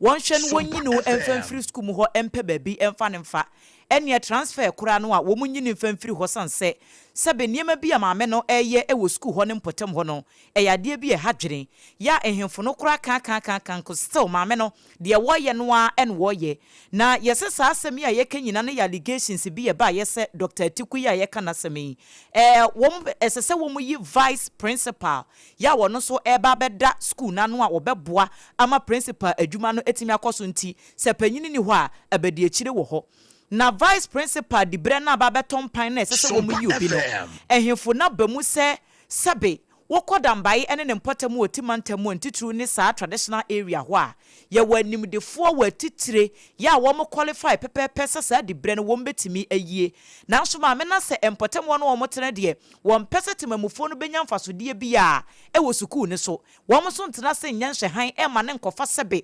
wɔnhwɛ no wɔnyi no mfa mfiri sukuu mu hɔ mpɛ baabi mfa no mfa, ɛneɛ transfer koraa no a wɔnyi no mfa mfiri hɔ sane sɛ sɛbe nneɛma bi a maame no ɛreyɛ wɔ sukuu hɔ no mpɔtam hɔ no ɛyɛ adeɛ bi a ɛha dwene, yɛ a nhemfo no koraa kaakaakaaka nko still maame no. Deɛ wɔyɛ no ara na wɔyɛ. Na yɛsɛ saa asɛm yi a yɛka nyinaa no yɛ allegations bi a ɛbaeɛ sɛ Doctor Atiku yi a yɛka n'asɛm yi, ɛɛ wɔn, ɛsɛ sɛ wɔyi Vice Principal yi a ɔno nso reba abɛda sukuu no ano a ɔbɛboa ama Principal adwuma no atumi akɔ so nti, sɛ panin nni hɔ a, abadiakyire wɔ hɔ. Na Vice Principal diberɛ no aba abɛtɔ mpan no a ɛsɛ sɛ wɔyi obi no, ɛhefo no aba mu sɛ sɛbe Wo kɔ Dambayi ɛne ne mpɔtam wɔ Ti mantam mu a ntitiriw ne saa traditional area hɔ a, yɛwɔ animdefoɔ wɔ atitire yɛ a wɔn qualify pɛpɛɛpɛ sɛ saa dibrɛ no wɔn bɛtumi ayie. Nanso maame no asɛ mpɔtam hɔ no wɔn tena deɛ wɔn pɛ sɛ temamufoɔ no bɛnya mfasodeɛ biara wɔ sukuu no so. Wɔn nso ntena ase nyɛ nhwɛhan mma no nkɔfa sɛbe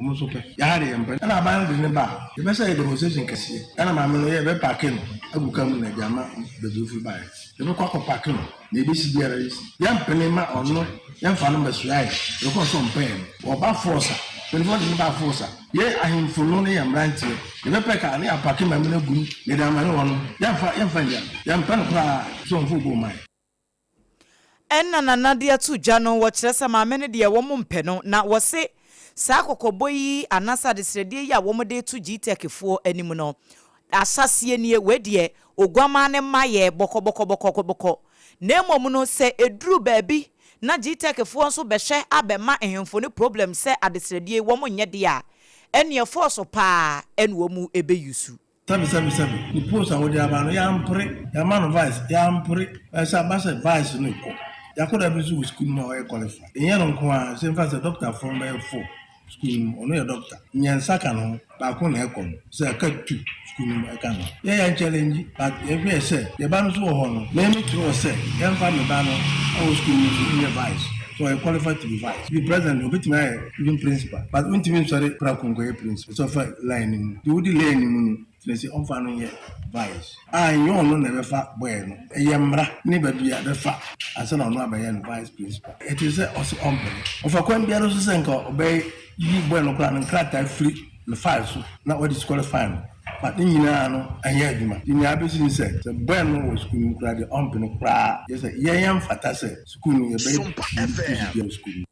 Wɔn nso pɛ. Yɛa de yɛmpɛ. Ɛna aban no de no ba a, yɛpɛ sɛ ɛyɛ demonstration kɛseɛ. Ɛna maame no yɛ bɛpaake no agu car mu na ɛde ama baabi ɔfiri baeɛ. Yɛbɛkɔ akɔ paake no, deɛ ɛbɛsi biara yɛsi. Yɛmpene mma ɔno, yɛmfa no mmɛsoa yɛn. Yɛkɔɔ so ɔmpɛ yɛn. Ɔba force a, mpanimfoɔ de no baa force a, yɛn ahemfo no ne yɛn mmeranteɛ, yɛbɛpɛ car na yɛapaake maame no agu mu na yɛde ama no, ɔno, yɛmfa, yɛmfa nnya no. Yɛmpɛ no koraa. So ɔmfa obi mma yɛn. Ɛnna Nana de ato gya no, wɔkyerɛ sɛ maame no deɛ wɔmpɛ no, na wɔse saa kɔkɔbɔ yi anaasɛ adesrɛdeɛ yi a wɔde reto Gtechfoɔ anim no, ahyɛaseɛ nie, wei deɛ Oguammaa no mma yɛ bɔkɔbɔkɔbɔkɔbɔkɔ, na mmom no sɛ ɛduru baabi na Gtechfoɔ nso bɛhwɛ abɛma nhemfo no problem sɛ adesrɛdeɛ yi wɔnyɛ deɛ a, ɛnneɛ fɔɔso pa ara na wɔbɛuse. Sɛbi sɛbi sɛbi ne post a wode aba no yɛampere, yɛama no vice yɛampere, ɛɛ sɛ aba sɛ vice no rekɔ, Yakoda bi nso wɔ sukuu no mu a ɔyɛ qualified, ɛnyɛ no nko ara, sɛ mfa sɛ doctor fo bɛyɛ four sukuu no mu, ɔno yɛ doctor, nyɛ nsa ka ne ho, baako na ɛkɔ no, sɛ ɛka two sukuu no mu ɛka ne ho, yɛ yɛn challenge but yɛhwɛɛ sɛ yɛn ba no nso wɔ hɔ no, me me twerɛɛ sɛ yɛmfa me ba no wɔ sukuu no mu nyɛ vice, sɛ ɔyɛ qualified to be vice, ebi president deɛ obɛtumi ayɛ even principal but wontumi nsɔre prako nkɔyɛ principal. Sɛ ɔfa line no mu. Deɛ odi line no mu no, kyerɛ sɛ ɔmfa no nyɛ vice. A ɛnyɛ ɔno na ɛbɛfa boy no. Ɛyɛ mmara ne babia bɛfa ansa na ɔno abɛyɛ no vice principal. Ɛte sɛ ɔse ɔmpɛ no. Ɔfa kwan biara so sɛ nka ɔbɛyi boy no koraa no nkrataa firi ne file so na wa disqualify no but ne nyinaa no ɛnyɛ adwuma. Nti nea abɛsi ne sɛ, sɛ boy no wɔ sukuu no mu koraa deɛ ɔmpɛ no koraa. Kyerɛ sɛ yɛn ɛmfata sɛ sukuu no yɛbɛyɛ biribi firi so biara wɔ sukuu no mu.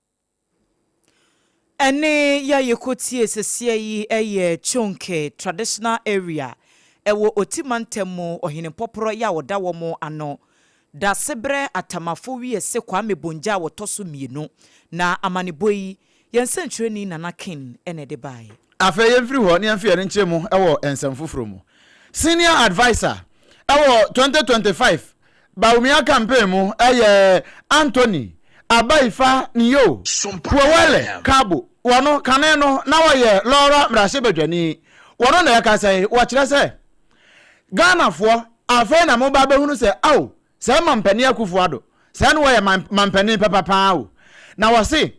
Ɛne yɛ yɛkɔ tie seseɛ yi yɛ Chonke traditional area ɛwɔ Oti mantam mu Ɔhene Pɔprɔ yɛ a ɔda wɔn ano Dasebrɛ Atamafo wiase Kwame Bongya a ɔtɔ so mmienu Na amanebɔ yi yɛn nsɛnkyerɛni Nana King na ɛde baeɛ. Afei yɛmfiri hɔ na yɛmfa yɛn ani nkyerɛ mu wɔ nsɛm foforɔ mu. Senior Adviser wɔ twenty twenty five Bawumia campaign mu ɛyɛ Anthony Abaifa Nio Puowele Kabo wɔno kane no na wɔyɛ Lora mmarahyɛbadwani wɔno na ɛka sɛ wɔkyerɛ sɛ Ghanafoɔ afei na moba bɛhunu sɛ ao sɛ mampanin Akufo Addo sɛ na wɔyɛ mampanin papa paa o na wɔse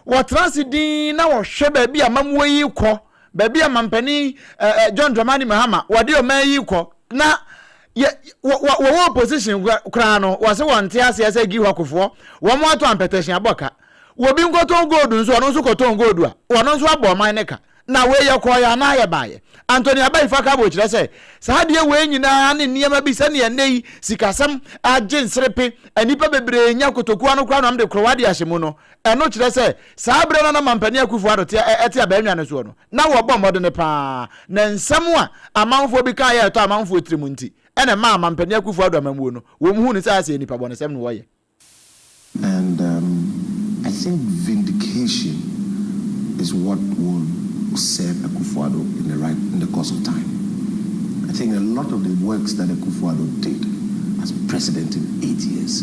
wɔtena ase din na wɔhwɛ baabi a mamuo yi rekɔ baabi a mampanin John Dramani Mahama wɔde ɔman yi rekɔ na yɛ wɔ wɔ wɔwɔ opposition kora- koraa no wɔse wɔnte aseɛ sɛ giwakofoɔ wɔn ato ampɛtɛhye abɔ ka wɔbi nkɔtɔn gold nso ɔno nso kɔtɔn gold a ɔno nso abɔ ɔman ne ka na wei yɛkɔɔyɛ anaa yɛbaayɛ Anthony Abai Fakabo kyerɛ sɛ saa adeɛ wei nyinaa ne nneɛma bi sɛdeɛ nnɛ yi sikasɛm agye nserepe nnipa bebree nya kotokuo ano koraa na wɔde korowa de ahyɛ mu no ɛno kyerɛ sɛ saa berɛ no na mampanin Akufo-Addo te ɛ- ɛte abannwa no soɔ no Ná wɔbɔ mmɔden paa, na nsɛm a amanfoɔ bi kaeɛ a ɛtɔ amanfoɔ tirim nti na ɛmaa Mampanin Akufo-Addo amammuo no, wɔhuu no sɛ ayɛ sɛ nnipa bɔnesɛm na wɔyɛ. And um I think vindication is what will serve Akufo-Addo in the right in the course of time. I think a lot of the works that Akufo-Addo did as president in eight years,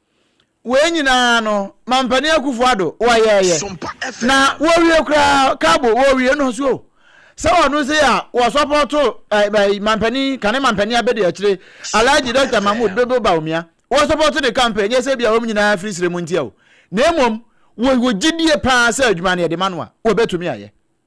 Wei nyinaa no Mampanin Akufo Addo wɔyɛɛyɛ na wɔwie koraa Kabo wɔwie no so sɛ wɔno sei a wɔsɔpɔto eh, Mampanin Kane Mampanin Abedi Akyire Alhaji Dr. Mahmood Dodo Bawumia wɔsɔpɔto ne campaign nyɛ sɛ bia wɔn nyinaa firi srɛ mu ntia o na mmom wɔwɔ gyidie paa sɛ adwuma no yɛde ma no a wɔbɛtumi ayɛ.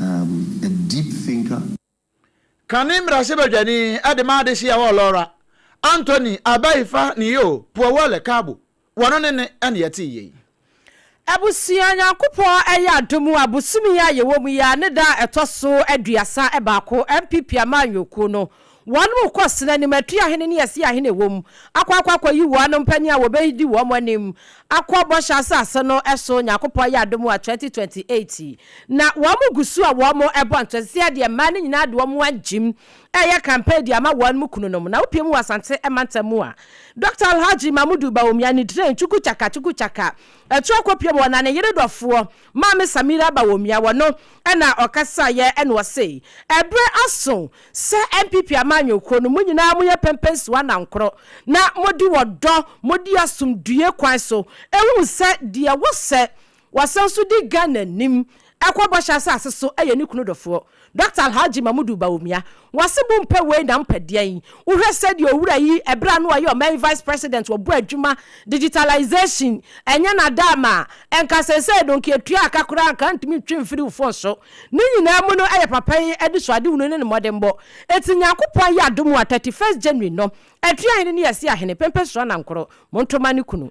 am a deep thinker. Kane mmarahyɛbadwani de maa adehye a ɛwɔ Lora, Anthony Abaifa Niyoo Puawale Kaabo, wɔno ne ne ɛne yɛtee yei. Abusua Nyankopɔn ɛyɛ adom a bosome yi a yɛwɔ mu yi ara ne da a ɛtɔ so aduasa baako NPP amanyɔkuo no Wɔkɔ sene animatua ahene ne asia ahene a ɛwɔ mu akɔ akɔ akɔyi wɔn mpanin a wɔbɛdi wɔn anim akɔ Bɔhyɛ Asase no so, Onyankopɔn ayɛ adom a 2028 yi na wɔgu so a wɔrebɔ ntɔsea de mmaa no nyinaa de wɔn agyim reyɛ campaign de ama wɔn kununom na wopue mu wɔ Asante mantam mu a Dɔkta Alhaji Mamudu Bawumia ne Dren Chukuchaka Chukuchaka atu akɔpue mu wɔ na ne yere dɔfoɔ Maame Samira Bawumia wɔ no na ɔkasaeɛ na ɔse ɛberɛ aso sɛ NPP amanyɔ kuo no mo nyinaa mo yɛ pɛmpɛnsuo anankorɔ na mo de ɔdɔ mo de asomdue kwan so ɛhunu sɛ deɛ wɔ sɛ wɔasan so di Ghana nim ɛkɔ bɔhyɛ asase so ɛyɛ ne kunu dɔfoɔ Doctor Alhaji Mamudu Bawumia, Wase bo mpɛ wei na mpɛ deɛn? Wohwɛ sɛdeɛ owura yi ɛberɛ a na ɔyɛ ɔman yi Vice President ɔbɔ adwuma digitalization ɛnyɛ nadaama a nka seesei no nka ɛtua aka koraa nka ntumi ntwe mfiri wo phone so ne nyinaa mu no ɛyɛ papa yi anisoadehunu ne ne mmɔdenbɔ ɛti Nyankopɔn ayɛ adom a 31st January no ɛtua hene ne yɛse ahene Pempe Suana Nkoro Montoma ne kunu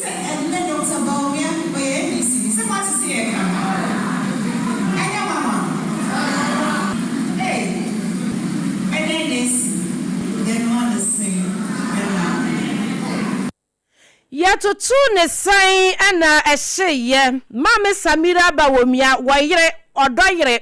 Sɛ ɛnnɛ Doctor Bawumia ɔyɛ APC ni sɛ moate sɛ yɛreka no oh ɛnyɛ nwanwa ei ɛdɛn na asi yɛn ano sɛn ɛnna. Yɛtotoo ne sɛn ɛnna ɛhyeeɛ. Maame Samira Bawumia wɔ yere, ɔdɔ yere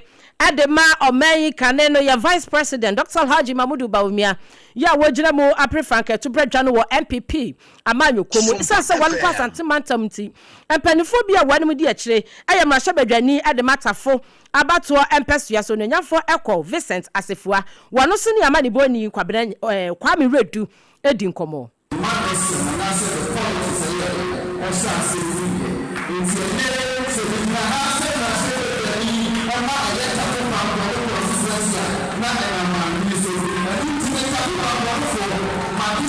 de ma ɔman yi kane no yɛ Vice President Doctor Alhaji Mamudu Bawumia yi a wagyina mu apere frankaatubrɛ dwa no wɔ NPP amanyɔkuo mu. Esiane sɛ wɔkɔ Asante mantam nti, mpanimfoɔ bi a wɔn anim di akyire yɛ mmarahyɛbadwani de ma Tafo abatoɔ mpɛsoa so onuonyamfoɔ Ɛkɔ Vincent Asefua. Wɔno so ne amanibɔni Kwabena Kwame Wiredu di nkɔmmɔ. Mma no nsɛm anaasɛ ne kɔn te sɛ yɛ ɔhyɛ aseɛ firi yɛ nti ɛnyɛ sɛ megyina ha sɛ mmarahyɛbadwani ɛma ɛyɛ Tafo Pampɔ ne constituency a na ɛnam maame yi so ɛno nti me Tafo Pampɔnefoɔ made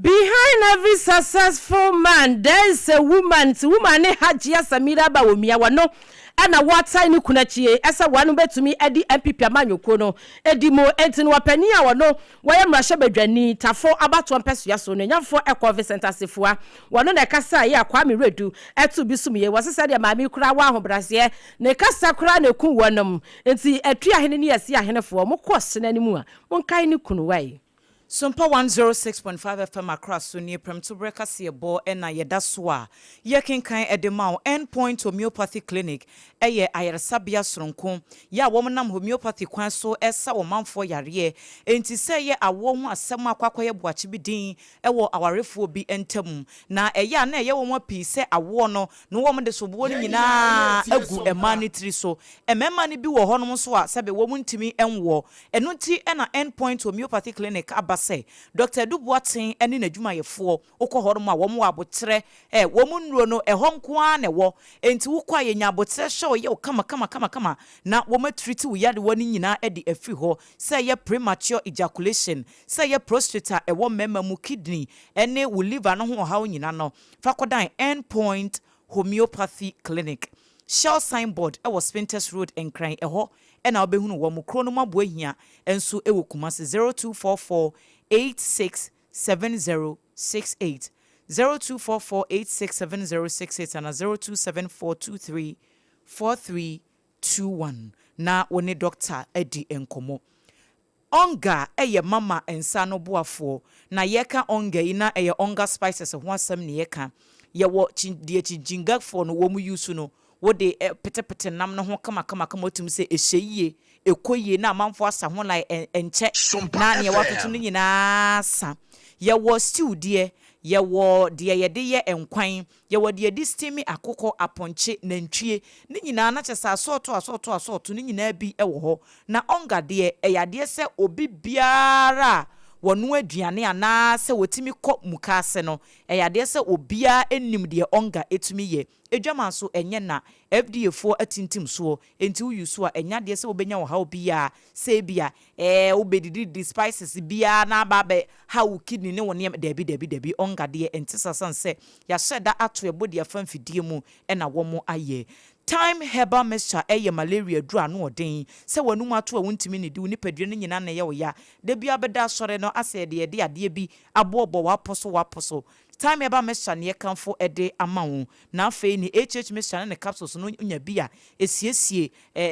Behind every successful man there is a woman nti woman ne Hajia Samira Bawumia wɔno na wɔatan ne kunu akyi yi sɛ wɔn bɛtumi adi NPP amanyɔkuo no di mu nti no ɔpanin a wɔno wɔyɛ mmarahyɛbadwani Tafo abatoɔ mpɛsoa so nuanyamfoɔ Ɛkɔ Vincent Asifua wɔno na ɛkasaeɛ a Kwame Redu to bi som yei wɔse sɛdeɛ maame yi koraa wɔ ahobraseɛ ne kasa koraa na ɛku wɔnom nti Atuahene ne Asiahenefoɔ mokɔ ɔsene no mu a monkae ne kunu wae Sumpa 106.5 FM Accra so nie Prɛmtoberɛ kaseɛbɔ na yɛda so a yɛkenkan de ma wo. End Point Homeopathy Clinic yɛ ayaresabea soronko yɛ a wɔnam homeopathy kwan so sa ɔmanfoɔ yareɛ. Enti sɛ ɛyɛ awoɔ ho asɛm a kɔ akɔyɛ boakye bi din wɔ awarefoɔ bi ntam. Na ɛyɛ a na ɛyɛ nwanwa pii sɛ awoɔ no Na wɔde soboɔ no nyina ara gu mmaa no tiri so. Mmarima no bi wɔ hɔnom nso a sɛbe wɔn ntumi nwoɔ. Ɛno nti na End Point Homeopathy Clinic aba sɛ Dɔkta Adu Boateng ne n'adwumayɛfoɔ, wokɔ hɔnom a wɔwɔ aboterɛ, wɔn nnuro no ɛhɔ nko ara na ɛwɔ. Enti wokɔ a yɛnya aboterɛ hyɛ wo yɛ wo kamakamakamakama na wɔatriti wo yadewa no nyina ara de afiri hɔ. Sɛ ɛyɛ premature ejaculation, sɛ ɛyɛ prostrate a ɛwɔ mmarima mu, kidney ne wo liver no ho ɔhaw nyina no, Fa kɔdan End Point Homeopathy Clinic. Shell sign board wɔ Spintex Road Nkran, ɛhɔ na wobɛhunu wɔn. Kuro no mu aboa hia nso wɔ Kumasi, zero two four four eight six seven zero six eight, zero two four four eight six seven zero six eight anaa zero two seven four two three four three two one na wo ne dɔkta adi nkɔmmɔ. Ɔnga yɛ mama nsa ano boafoɔ. Na yɛka ɔnga yi na ɛyɛ ɔnga spices ho asɛm na yɛka. Yɛwɔ kyi deɛ kyinkyinga foɔ no wɔn use no wode petepete nam no ho kama kama kama wotim sɛ ɛhyɛ yie, ɛkɔ yie na amanfoɔ asa ho line ɛ ɛnkyɛ Sompa na neɛ watoto no FM. nyinaa sa. Yɛwɔ stew deɛ, yɛwɔ deɛ yɛde yɛ nkwan, Yɛwɔ deɛ yɛde steame akokɔ, apɔnkye, nantwie, ne nyinaa na kyɛsɛ asɔɔto asɔɔto asɔɔto no nyinaa bi wɔ hɔ. Na onga deɛ ɛyɛ adeɛ sɛ obi biara a wɔnoa aduane anaa sɛ wɔtumi kɔ mukaase no, ɛyɛ adeɛ sɛ obiara nim deɛ onga tumi yɛ. Adwaman nso ɛnyɛ na, FDA foɔ atintim soɔ Enti wo use a, ɛnyɛ adeɛ sɛ wobɛnya ɔhaw biara, sɛ ebia ɛɛ wobɛdidididi spices biara na aba abɛ haw wo kidney ne wo nneɛma, daabi daabi daabi, ɔnga adeɛ ɛnte saa sane sɛ yɛahyɛ da ato yɛn body afa mfidie mu ɛna wɔn ayɛ. Thyme herbal mixture ɛyɛ malaria aduro ano ɔden, sɛ w'anum ato a wontumi nnidi, wo nipadua no nyinaa na ɛyɛ wo ya, da biara wobɛda asɔre no asɛ yɛde yɛde adeɛ bi aboɔboɔ w'aposo w'aposo, Time ɛba mɛsua neɛ kamfo ɛde ama wo na afei neɛ HH mesua ne ne capsules no nya bi a ɛsiesie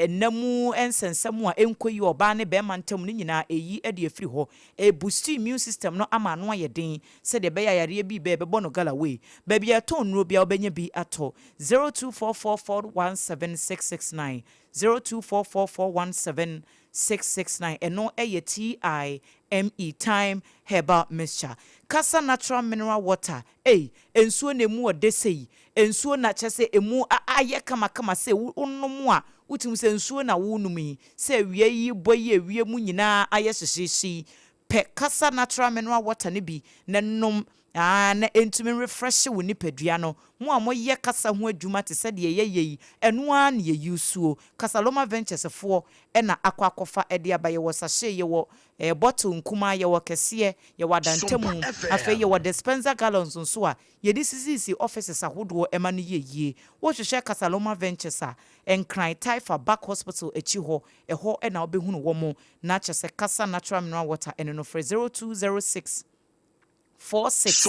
nna mu nsɛnsɛm a ɛnkɔ yie ɔbaa ne bɛɛma ntam no nyinaa ɛyi ɛde afiri hɔ ɛ boost immune system no ama ano ayɛ den sɛdeɛ ɛbɛyɛ a yareɛ bi bɛɛ bɛbɔ no gala wei baabi a yɛtɔn nnuro biara wobɛnya bi atɔ zero two four four four one seven six six nine zero two four four four one seven Six six nine Ɛno yɛ TIME, Thyme Herbal Mixture. Kasa natural mineral water ei, nsuo na ɛmu ɔdɛ sei, nsuo na kyerɛ sɛ ɛmu ayɛ kama kama sei, wonom a wotumi sɛ nsuo na wonom yi, sɛ awia yi bɔ yi awia mu nyinaa ayɛ hyehyeehye yi, Pɛ kasa natural mineral water no bi na nom aa na entumi nrefrɛhye wo nipadua no. Mo a mo yɛ kasa ho adwuma te sɛ deɛ yɛ yɛ yi, ɛno aa ne yɛ usuo. Casaloma Ventures foɔ na akɔ akɔfa de aba, yɛwɔ sachet, yɛwɔ ɛɛ bottle nkumaa, yɛwɔ kɛseɛ, yɛwɔ adantamu, afei yɛwɔ dispenser gallons nso a yɛde sisisi offices ahodoɔ ɛma no yɛ yie. Wo hwehwɛ Casaloma Ventures a, Nkran, Taifa, Back Hospital akyi hɔ, ɛhɔ na wo bɛhunu wɔn. Na kyɛ sɛ kasa natural mineral water ɛno no frɛ zero two zero six four six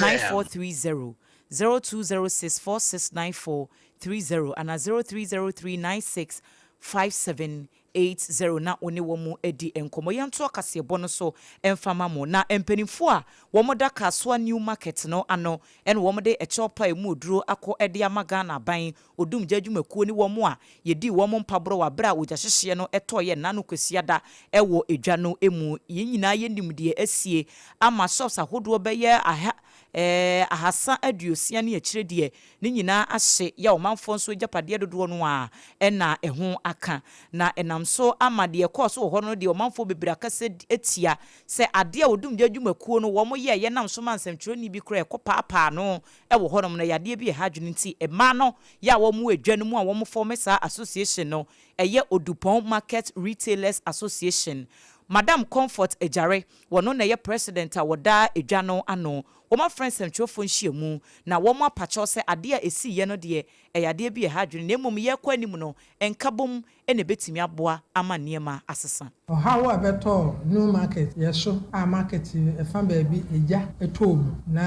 nine four three zero zero two zero six four six nine four three zero anaa zero three zero three nine six five seven eight zero na wo ne wɔn adi nkɔmɔ yɛn to ɔkaseɛbɔ no so mfama mo na mpanimfoɔ a wɔn da Kasoa new market no ano ɛna wɔn de ɛkyɛw pa a emu oduro akɔ ɛde ama Ghana aban odumgya adwumakuo ne wɔn a yɛdii wɔn mpaborɔ wɔ aberɛ a ogya hyehyeɛ no tɔeɛ nna no Kwasiada wɔ dwa no mu. Yɛn nyinaa yɛnim deɛ asie ama shops ahodoɔ bɛyɛ aha eh, ahasa aduosia ne akyire deɛ ne nyinaa ahye yɛ ɔmanfoɔ nso agyapadeɛ dodoɔ no ara na ɛho aka. Na ɛnam so ama deɛ ɛkɔɔ so wɔ hɔ no deɛ ɔmanfoɔ bebree akasa atia sɛ adeɛ a odumgya adwumakuo no wɔn yɛeɛ nam so maa nsɛmtwerɛni bi koraa ɛkɔpaapaa no wɔ hɔnom na yadeɛ bi a ɛha adwene nti mmaa no yɛ a wɔwɔ adwa no mu a wɔn fɔme saa association no ɛyɛ Odupɔn market retailers association Madam Comfort Agyare wɔno na ɛyɛ president a wɔdaa adwa no ano wɔn afrɛ nsɛmtwerɛfoɔ nhyiamu na wɔn apakyɛw sɛ adeɛ a ɛsiiɛ no deɛ ɛyɛ adeɛ bi a ɛha adwene na mmom yɛrekɔ anim no nkabom na ɛbɛtumi aboa ama nneɛma asesa. Ɔhaw a ɛbɛtɔ Newmarket yɛ so a market fa baabi egya tɔɔ mu na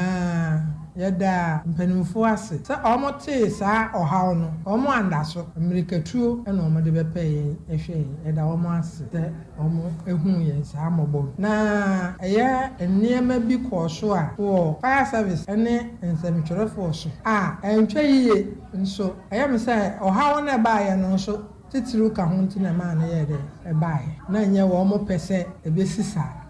yɛdaa mpaninfoɔ ase sɛ wɔn tee saa ɔhaw no wɔn andaso mmirikatuo na wɔn de bɛpɛɛ yɛn ɛhwɛ yɛn yɛda wɔn ase sɛ wɔn huu yɛn saa mmɔbɔ no na ɛyɛ nneɛma bi kɔɔ so a wɔ fire service ne nsɛmtwerɛfoɔ so a antwa yie. Nso, ɛyɛ me sɛ ɔhaw no a ɛbaeɛ no nso titiriw ka ho nti na ɛmaa no yɛɛ dɛn? Ɛbaeɛ. Ná ɛnyɛ wɔpɛ sɛ ɛbɛsi saa.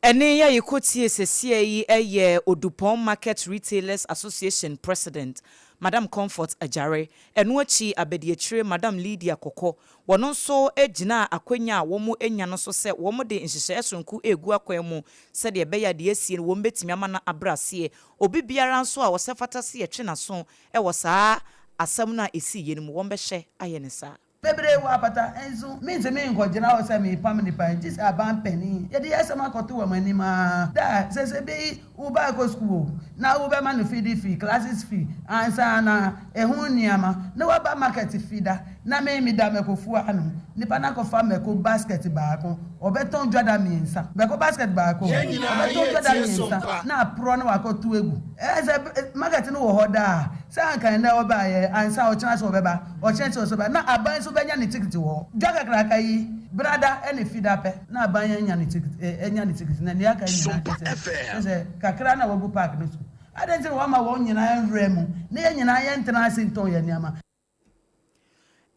Ɛnne a yɛkɔtiee seesei yi yɛ Odupɔn Market Retailers Association President, Madam Comfort Agyare. Ɛno akyi abadiakyire, Madam Lydia Kɔkɔ, wɔn nso gyinaa akwanya a wɔanya no so sɛ wɔde nhyehyɛeɛ sononko regu akwan mu sɛdeɛ ɛbɛyɛ a deɛ asie no wɔbɛtumi ama no abrɛ aseɛ Obi biara nso a ɔsɛ fata se yɛtwe n'aso wɔ saa asɛm no a ɛsii yɛ no mu, wɔbɛhyɛ ayɛ no saa. Bebree wɔ apata nso mintse me nkɔgyina hɔ sɛ meepam nipa gye sɛ aban panin yɛde yɛasɛm akɔto wɔn anim aa da a sɛsɛ beyi wo ba akɔ sukuu o na wobɛma no fidi fee, classes fee, ansa na Eho nneɛma na waba market fida na me me da mako fua ano nipa na kɔ fa mako basket baako ɔbɛ tɔn dwada miensa mako basket baako ɔbɛ tɔn dwada miensa na aprɔ na wakɔ to agu ɛɛ sɛ market no wɔ hɔ daa sɛ anka ɛnɛ ɔbaa yɛ ansa ɔkyena so ɔbɛ ba ɔkyena so ɔsɛ ba na aban so bɛ nya ne tikiti wɔ hɔ dwa kakraka yi brada ɛne fida pɛ na aban anya ne tikiti ɛ anya ne tikiti na nea aka nyinaa kyɛ sɛ kyɛ sɛ kakra na wagu park no so. Adɛn nti na woama wɔn nyinaa nwura mu, ne yɛn nyinaa yɛntena ase ntɔn yɛn nneɛma?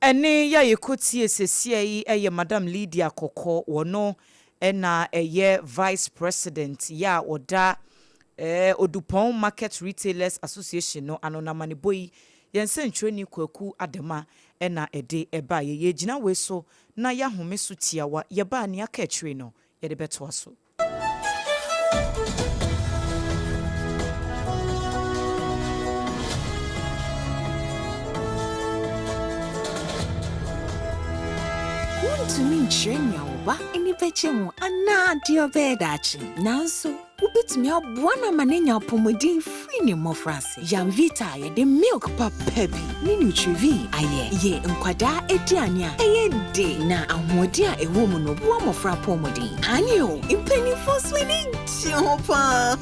Ɛnne ya yɛkɔ tie sɛsia yi yɛ Madam Lydia Kɔkɔ, wɔno na ɛyɛ Vice President ya ɔda eh Odupɔn Market Retailers Association no ano, na amanebɔ yi yɛn nsɛntwerɛni Kwaku Adama na ɛde ɛbaeɛ. Yɛregyina wei so na yɛahome so tiawa, yɛba a nea aka akyire no yɛde bɛtoa so. Wuntumi nkyerɛ nea wo ba ani begye ho anaa deɛ ɔbɛyɛ daakye, nanso wubetumi aboa no ama no anya apɔmuden fi ne mmofraase. te. Yamvita a yɛde milk papa bi ne Nutrivin ayɛ yɛ nkwadaa aduane a ɛyɛ de na ahoɔden a ɛwɔ mu no boa mmofra apɔwmuden. Aane o, mpanyimfo nso ani gye ho paa.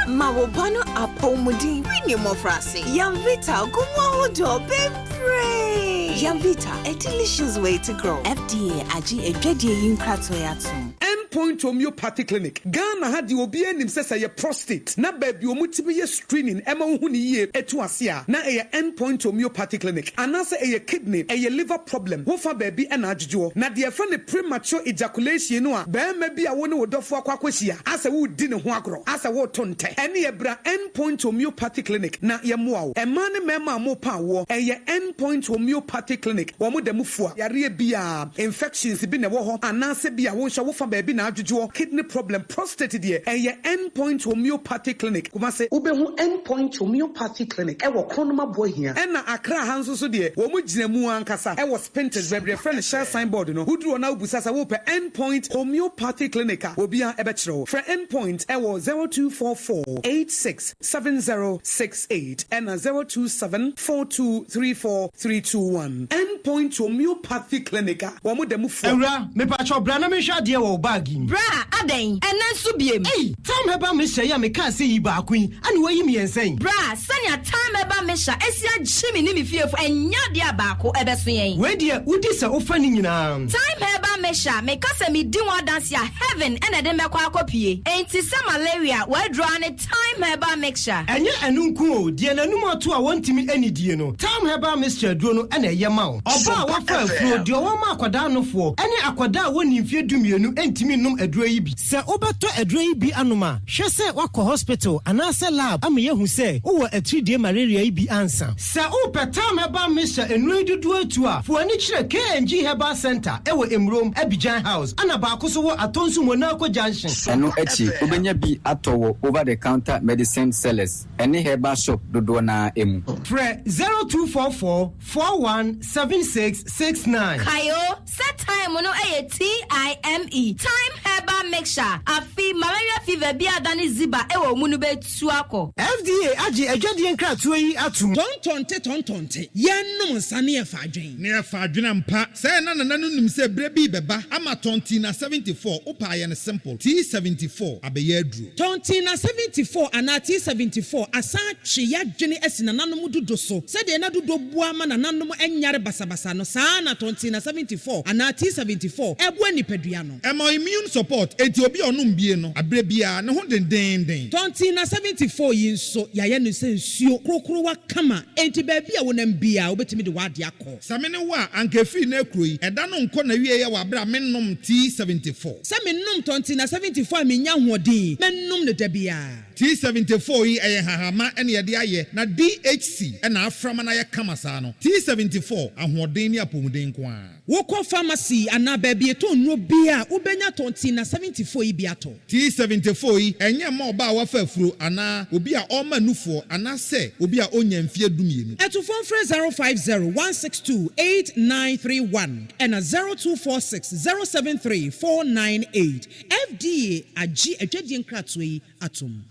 Ma wo ba no apɔwmuden fi ne mmofraase. Yamvita gu mu ahodoɔ bebree. Yamvita, a delicious way to grow. FDA agye adwadie yi nkratoe atom. End Point Homeopathy Clinic, Ghana ha deɛ obiara nim sɛ sɛ ɛyɛ prostate na baabi a wɔtumi yɛ screening ma wohu no yie tu ase a, na ɛyɛ End Point Homeopathy Clinic. Anaasɛ ɛyɛ kidney, ɛyɛ liver problem, wo fa baabi na adwodwoɔ. Na deɛ yɛfrɛ no premature ejaculation no a barima bi a wo ne wo dɔfoɔ akɔ akɔhyia asɛ woredi ne ho agorɔ, asɛ woreto ntɛ, ɛneɛ bra End Point Homeopathy Clinic na yɛmmoa wo. Mmaa ne mmarima a mopɛ awoɔ, ɛyɛ End Point Homeopathy Clinic, wɔda mu fua yareɛ biara. infections bi na ɛwɔ hɔ anaasɛ bi a wonhyɛ wo fa baabi na adwodwoɔ, kidney problem, prostate deɛ, ɛyɛ End Point Homeopathy Clinic, Kumase. Wobɛhu End Point Homeopathy Clinic wɔ Kronoma Boahia. Ɛna Accra ha nso so deɛ, wɔn gyina mu ankasa wɔ Spintex baabi yɛfrɛ no Shell Sign Board no, woduru hɔ na wobisa sɛ wopɛ End Point Homeopathy Clinic a, obiara bɛkyerɛ wo. Frɛ End Point wɔ zero two four four eight six seven zero six. eight ɛna zero two seven four two three four three two one End Point Homeopathy Clinic a wɔn da mu fua. Awura, mepakyɛw bra na menhwɛ adeɛ wɔ wo bag yi mu. Bra, adɛn? Ɛnnɛ nso biem? Ei! Tam Herbal Mixture yi a mekaa sɛ yi baako yi, ɛne woayi mmiɛnsa yi? Bra, sɛnea Tam Herbal Mixture asi agye me ne me fiefo ɛnyɛ adeɛ a baako ɛbɛso yɛn. Wei deɛ, wodi sɛ wofa ne nyinaa. Tam Herbal Mixture, meka sɛ medi ho adanse a, heaven na ɛde me bɛkɔ akɔpue. Enti sɛ malaria w'aduru ara ne. Thyme Herbal Mixture. Ɛnyɛ ɛno nko o, deɛ n'anum ato a wɔntumi nnidie no, Thyme Herbal Mixture aduro no na ɛyɛ ma wo. Ɔbaa a wafa afuro, deɛ ɔwɔ ma akwadaa anofoɔ, ne akwadaa a wɔnnii mfeɛ dumienu ntumi nnom aduro yi bi. Sɛ wobɛtɔ aduro yi bi anom a, hwɛ sɛ woakɔ hospital anaasɛ lab ama yɛahu sɛ wowɔ atiridie malaria yi bi ansa. Sɛ wo pɛ tam herbal mixture nnuro yi dodoɔ atu a, fa w'ani kyerɛ KNG Herbal Centre ɛwɔ Emurom, Abidjan House, ɛna baako so wɔ Atonsu Monaco Junction. Ɛno akyi, wobɛnya bi atɔ wɔ over the counter medicine sellers ɛne herbal shop dodoɔ no ara mu. Frɛ zero two four four four one seven six six nine. Kae o sɛ thyme no yɛ T-I-M-E, thyme herbal mixture. Afe malaria fever biara a adane ziba wɔ mu no bɛtu. su akɔ. FDA agye adwadie nkratoɔ yi atom. Tɔntɔnte tɔntɔnte, yɛnnom nsa ne yɛfa adwene. Ne yɛfa adwene ampa. Sɛ na Nana no nim sɛ berɛ bi bɛba ama Tɔntina 74, wo paa yɛ no simple, T74, abɛyɛ aduro. Tɔntina 74 anaa T74 asan atwe yɛadwene asi nananom dudo so. Sɛdeɛ na dudo boa ma nananom nyare basabasa no, saa ara na Tɔntina 74 anaa T74 boa nipadua no. Ɛma immune support enti obi a ɔnom bie no aberɛ biara ne ho dendeenden. Tɔntina 74 yi nso yɛayɛ no sɛ nsuo krokrowa kama enti baabi a wonam biara wobɛtumi de w'adeɛ akɔ. Sɛ me ne wo a anka ɛfiri nnɛ kuro yi ɛda no nkɔ n'awieɛ wɔ aberɛ a mennom tea 74. Sɛ menom Tɔntina 74 a menya ahoɔden, mɛnom no da biara. Tea 74 yi ɛyɛ nhahamma na yɛde ayɛ na DHC na aframa no ayɛ kama saa no. Tea 74 ahoɔden ne apɔmuden nko ara. Wokɔ pharmacy anaa baabi etɔn nnuro bi a, wobɛnya tɔn tea na seventy four yi bi atɔ. Tea seventy four yi, ɛnyɛ mma ɔbaa a wafa afuro anaa obi a ɔrema nufoɔ anaasɛ obi a ɔnnya mfeɛ dumienu. To fon frɛ zero five zero one six two eight nine three one ɛna zero two four six zero seven three four nine eight. FDA agye adwadie nkratoɔ yi atom.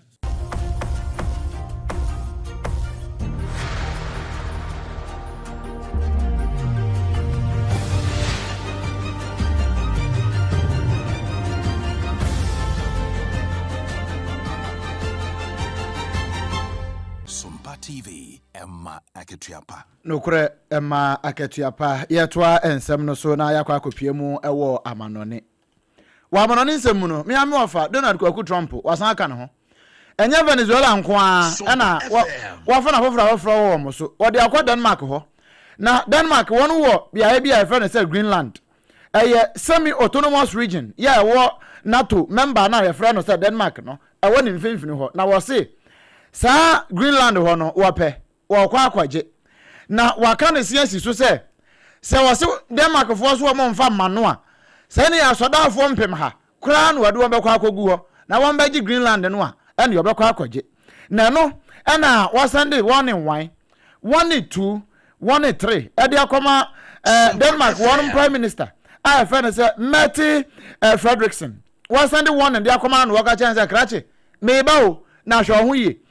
TV ɛma akatua pa nokorɛ ɛma akatua pa yɛtoa nsɛm no so na yɛakɔ akɔpia mu ɛwɔ amanɔne Wɔ amannɔne nsɛm mu no, me ara me wɔfa, Donald Kwaku Trump, wɔasan aka ne ho. Ɛnyɛ Venezuela nko ara na wɔafa no afoforo afoforo wɔ wɔn so. Wɔde akɔ Denmark hɔ. Na Denmark, wɔwɔ beae bi a wɔfrɛ no sɛ Greenland. Ɛyɛ semi-autonomous region yɛ ɛwɔ NATO mɛmba no a wɔfrɛ no sɛ Denmark no, ɛwɔ ne mfinfini hɔ. Na wɔse saa Greenland hɔ no, wɔpɛ. wɔkɔ akɔgye. Na wɔaka no se asi so sɛ, sɛ wɔse Denmarkfoɔ so wɔn mfa mma no a, sɛdeɛ asɔdaafoɔ mpemha koraa na wɔde wɔn bɛkɔ akɔgu hɔ na wɔbɛgye Greenland no a, ɛnneɛ wɔbɛkɔ akɔgye. Na ɛno na wɔsan de wɔn one, wɔn two, wɔn three de akɔma Denmark wɔn Prime Minister a yɛfrɛ no sɛ Mette Frederiksen. Wɔsan de wɔn de akɔma no na wɔka kyerɛ no sɛ, Krakye, meba o, na hwɛ wo ho yie.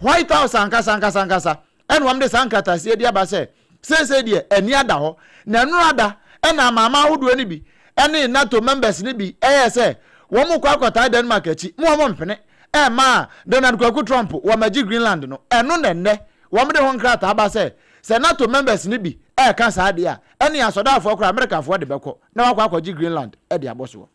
White House ankasa ankasa ankasa na wɔde saa nkrataseɛ de aba sɛ seesei deɛ ani ada hɔ, na ɛno ara da na amanaman ahodoɔ no bi ne NATO members no bi yɛɛ sɛ wɔrekɔ akɔtaa Denmark akyi ma wɔmpene mma Donald Kwaku Trump wɔmmɛgye Greenland no. Ɛno na nnɛ wɔde ho nkrataa aba sɛ sɛ NATO members no bi reka saa deɛ a, ɛnneɛ asɔdaafoɔ koraa Amerikafoɔ de bɛkɔ na wɔakɔ akɔgye Greenland de abɔ soɔ.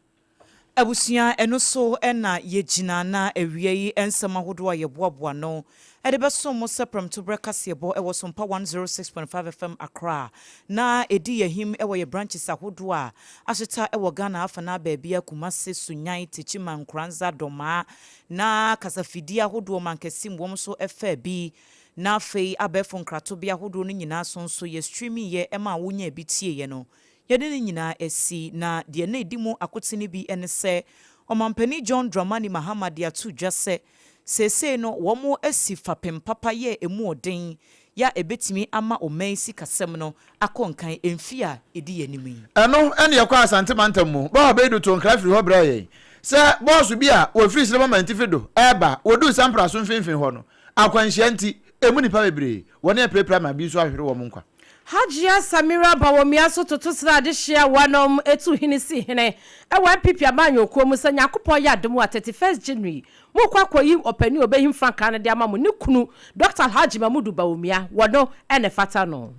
Abusua, ɛno so na yɛgyina na awia yi nsɛm ahodoɔ a yɛboaboa ano de bɛsom mo sɛ prɛmtoberɛ kaseɛbɔ wɔ Sompa 106.5 FM Accra na ɛdi yɛahim wɔ yɛ branches ahodoɔ a ahyeta wɔ Ghana afanaa baabiara, Kumase, Sunyani, Techiman, Nkoranza, Domaa na kasafidie ahodoɔ mankɛse mu wɔn so ɛfaa bi na afei abɛɛfo nkratobea ahodoɔ no nyinaa so nso yɛ streaming yɛ maa wo nyaa bi tieeɛ no Yɛde ne nyinaa asi, na deɛ na ɛdi mu akote no bi ne sɛ, Ɔmampanin John Dramani Mahama de ato dwa sɛ, seesei no wɔasi fapem papa yɛ ɛmu ɔden yɛ a ɛbɛtumi ama ɔman yi sikasɛm no akɔ nkan mfeɛ a ɛdi yɛn anim yi. Ɛno ne yɛkɔɔ Asante mantam mu. Bɔha Beidu too nkra firii hɔ brɛɛ yɛn sɛ bɔɔso bi a wɔfiri Srema Mantifi do reba. Wɔduu Sampra so mfinfini hɔ no, akwanhyia nti, ɛmu nnipa bebree, wɔne apirapira ma bi nso ahwere wɔn nkwa. Hajia Samira Bawumia nso toto srade hyia wɔnom etu hene si hene wɔ NPP amanyɔkuo mu sɛ Nyankopɔn yɛ adom a 31st January mo kɔ akɔ yi ɔpanin a ɔbɛhim frankaa no de ama mo ne kunu Dɔkta Alhaji Mamudu Bawumia wɔ no na ɛfata no.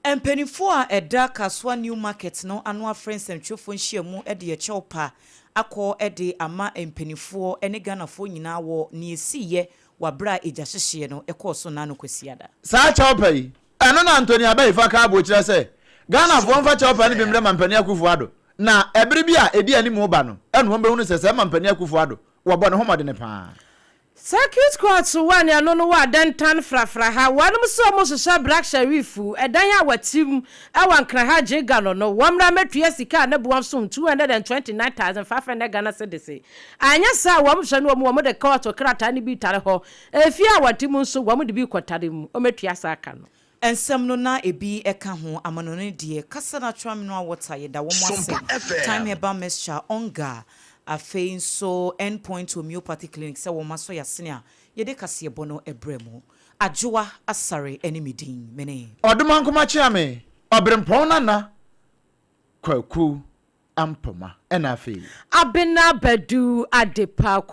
Mpaninfoɔ a ɛda Kasuwa New Market no ano afrɛ nsɛmtwerɛfoɔ nhyiamu de ɛkyɛw pa akɔ de ama mpaninfoɔ ne Ghanafoɔ nyinaa wɔ nea ɛsiiɛ wɔ aberɛ a egyahyehyeɛ no kɔɔ so nnaa no Kwasiada. Saa kyɛw pa yi Ɛno na Anthony Abaifa kaa bɔɔ kyira sɛ Ghanafoɔ mfa kyɛwpa no bi mmerɛ Mampanin Akuffo Addo na ɛbere bi a ɛdi anim reba no na wɔn bɛhunu sɛ sɛɛ Mampanin Akuffo Addo wɔbɔ ne ho mmɔdene paa. Circuit court wɔ anuanom no wɔ Adentan frafra ha wɔnom nso wɔn hyehyɛ Black Sherif ɛdan a wɔte mu wɔ Ankra ha gye Gano no wɔn mmra mmɛtua sika a ne boɔ nso ho two hundred and twenty nine thousand five hundred Ghana cedis anyɛ saa a wɔn hwɛ no wɔn wɔn de court krataa no bi tare hɔ Afie a wɔte mu nso, wɔde bi kɔtare mu. Wɔatua saa ka no. Nsɛm no na ebi ka ho, amanɔne deɛ, kasa na atwerameno a wɔta, yɛda wɔn ase, time herbal mixture, ɔnga, afei nso End Point Homeopathy Clinic sɛ wɔn asɔ yɛn asene a yɛde kaseɛbɔ no brɛ mo. Adwoa Asare ne me din. Me ne. Ɔdomankoma Kyeame, Ɔberempɔn Nana Kwaku Ampoma, ɛna afei. Abena Badu Adepa Ko.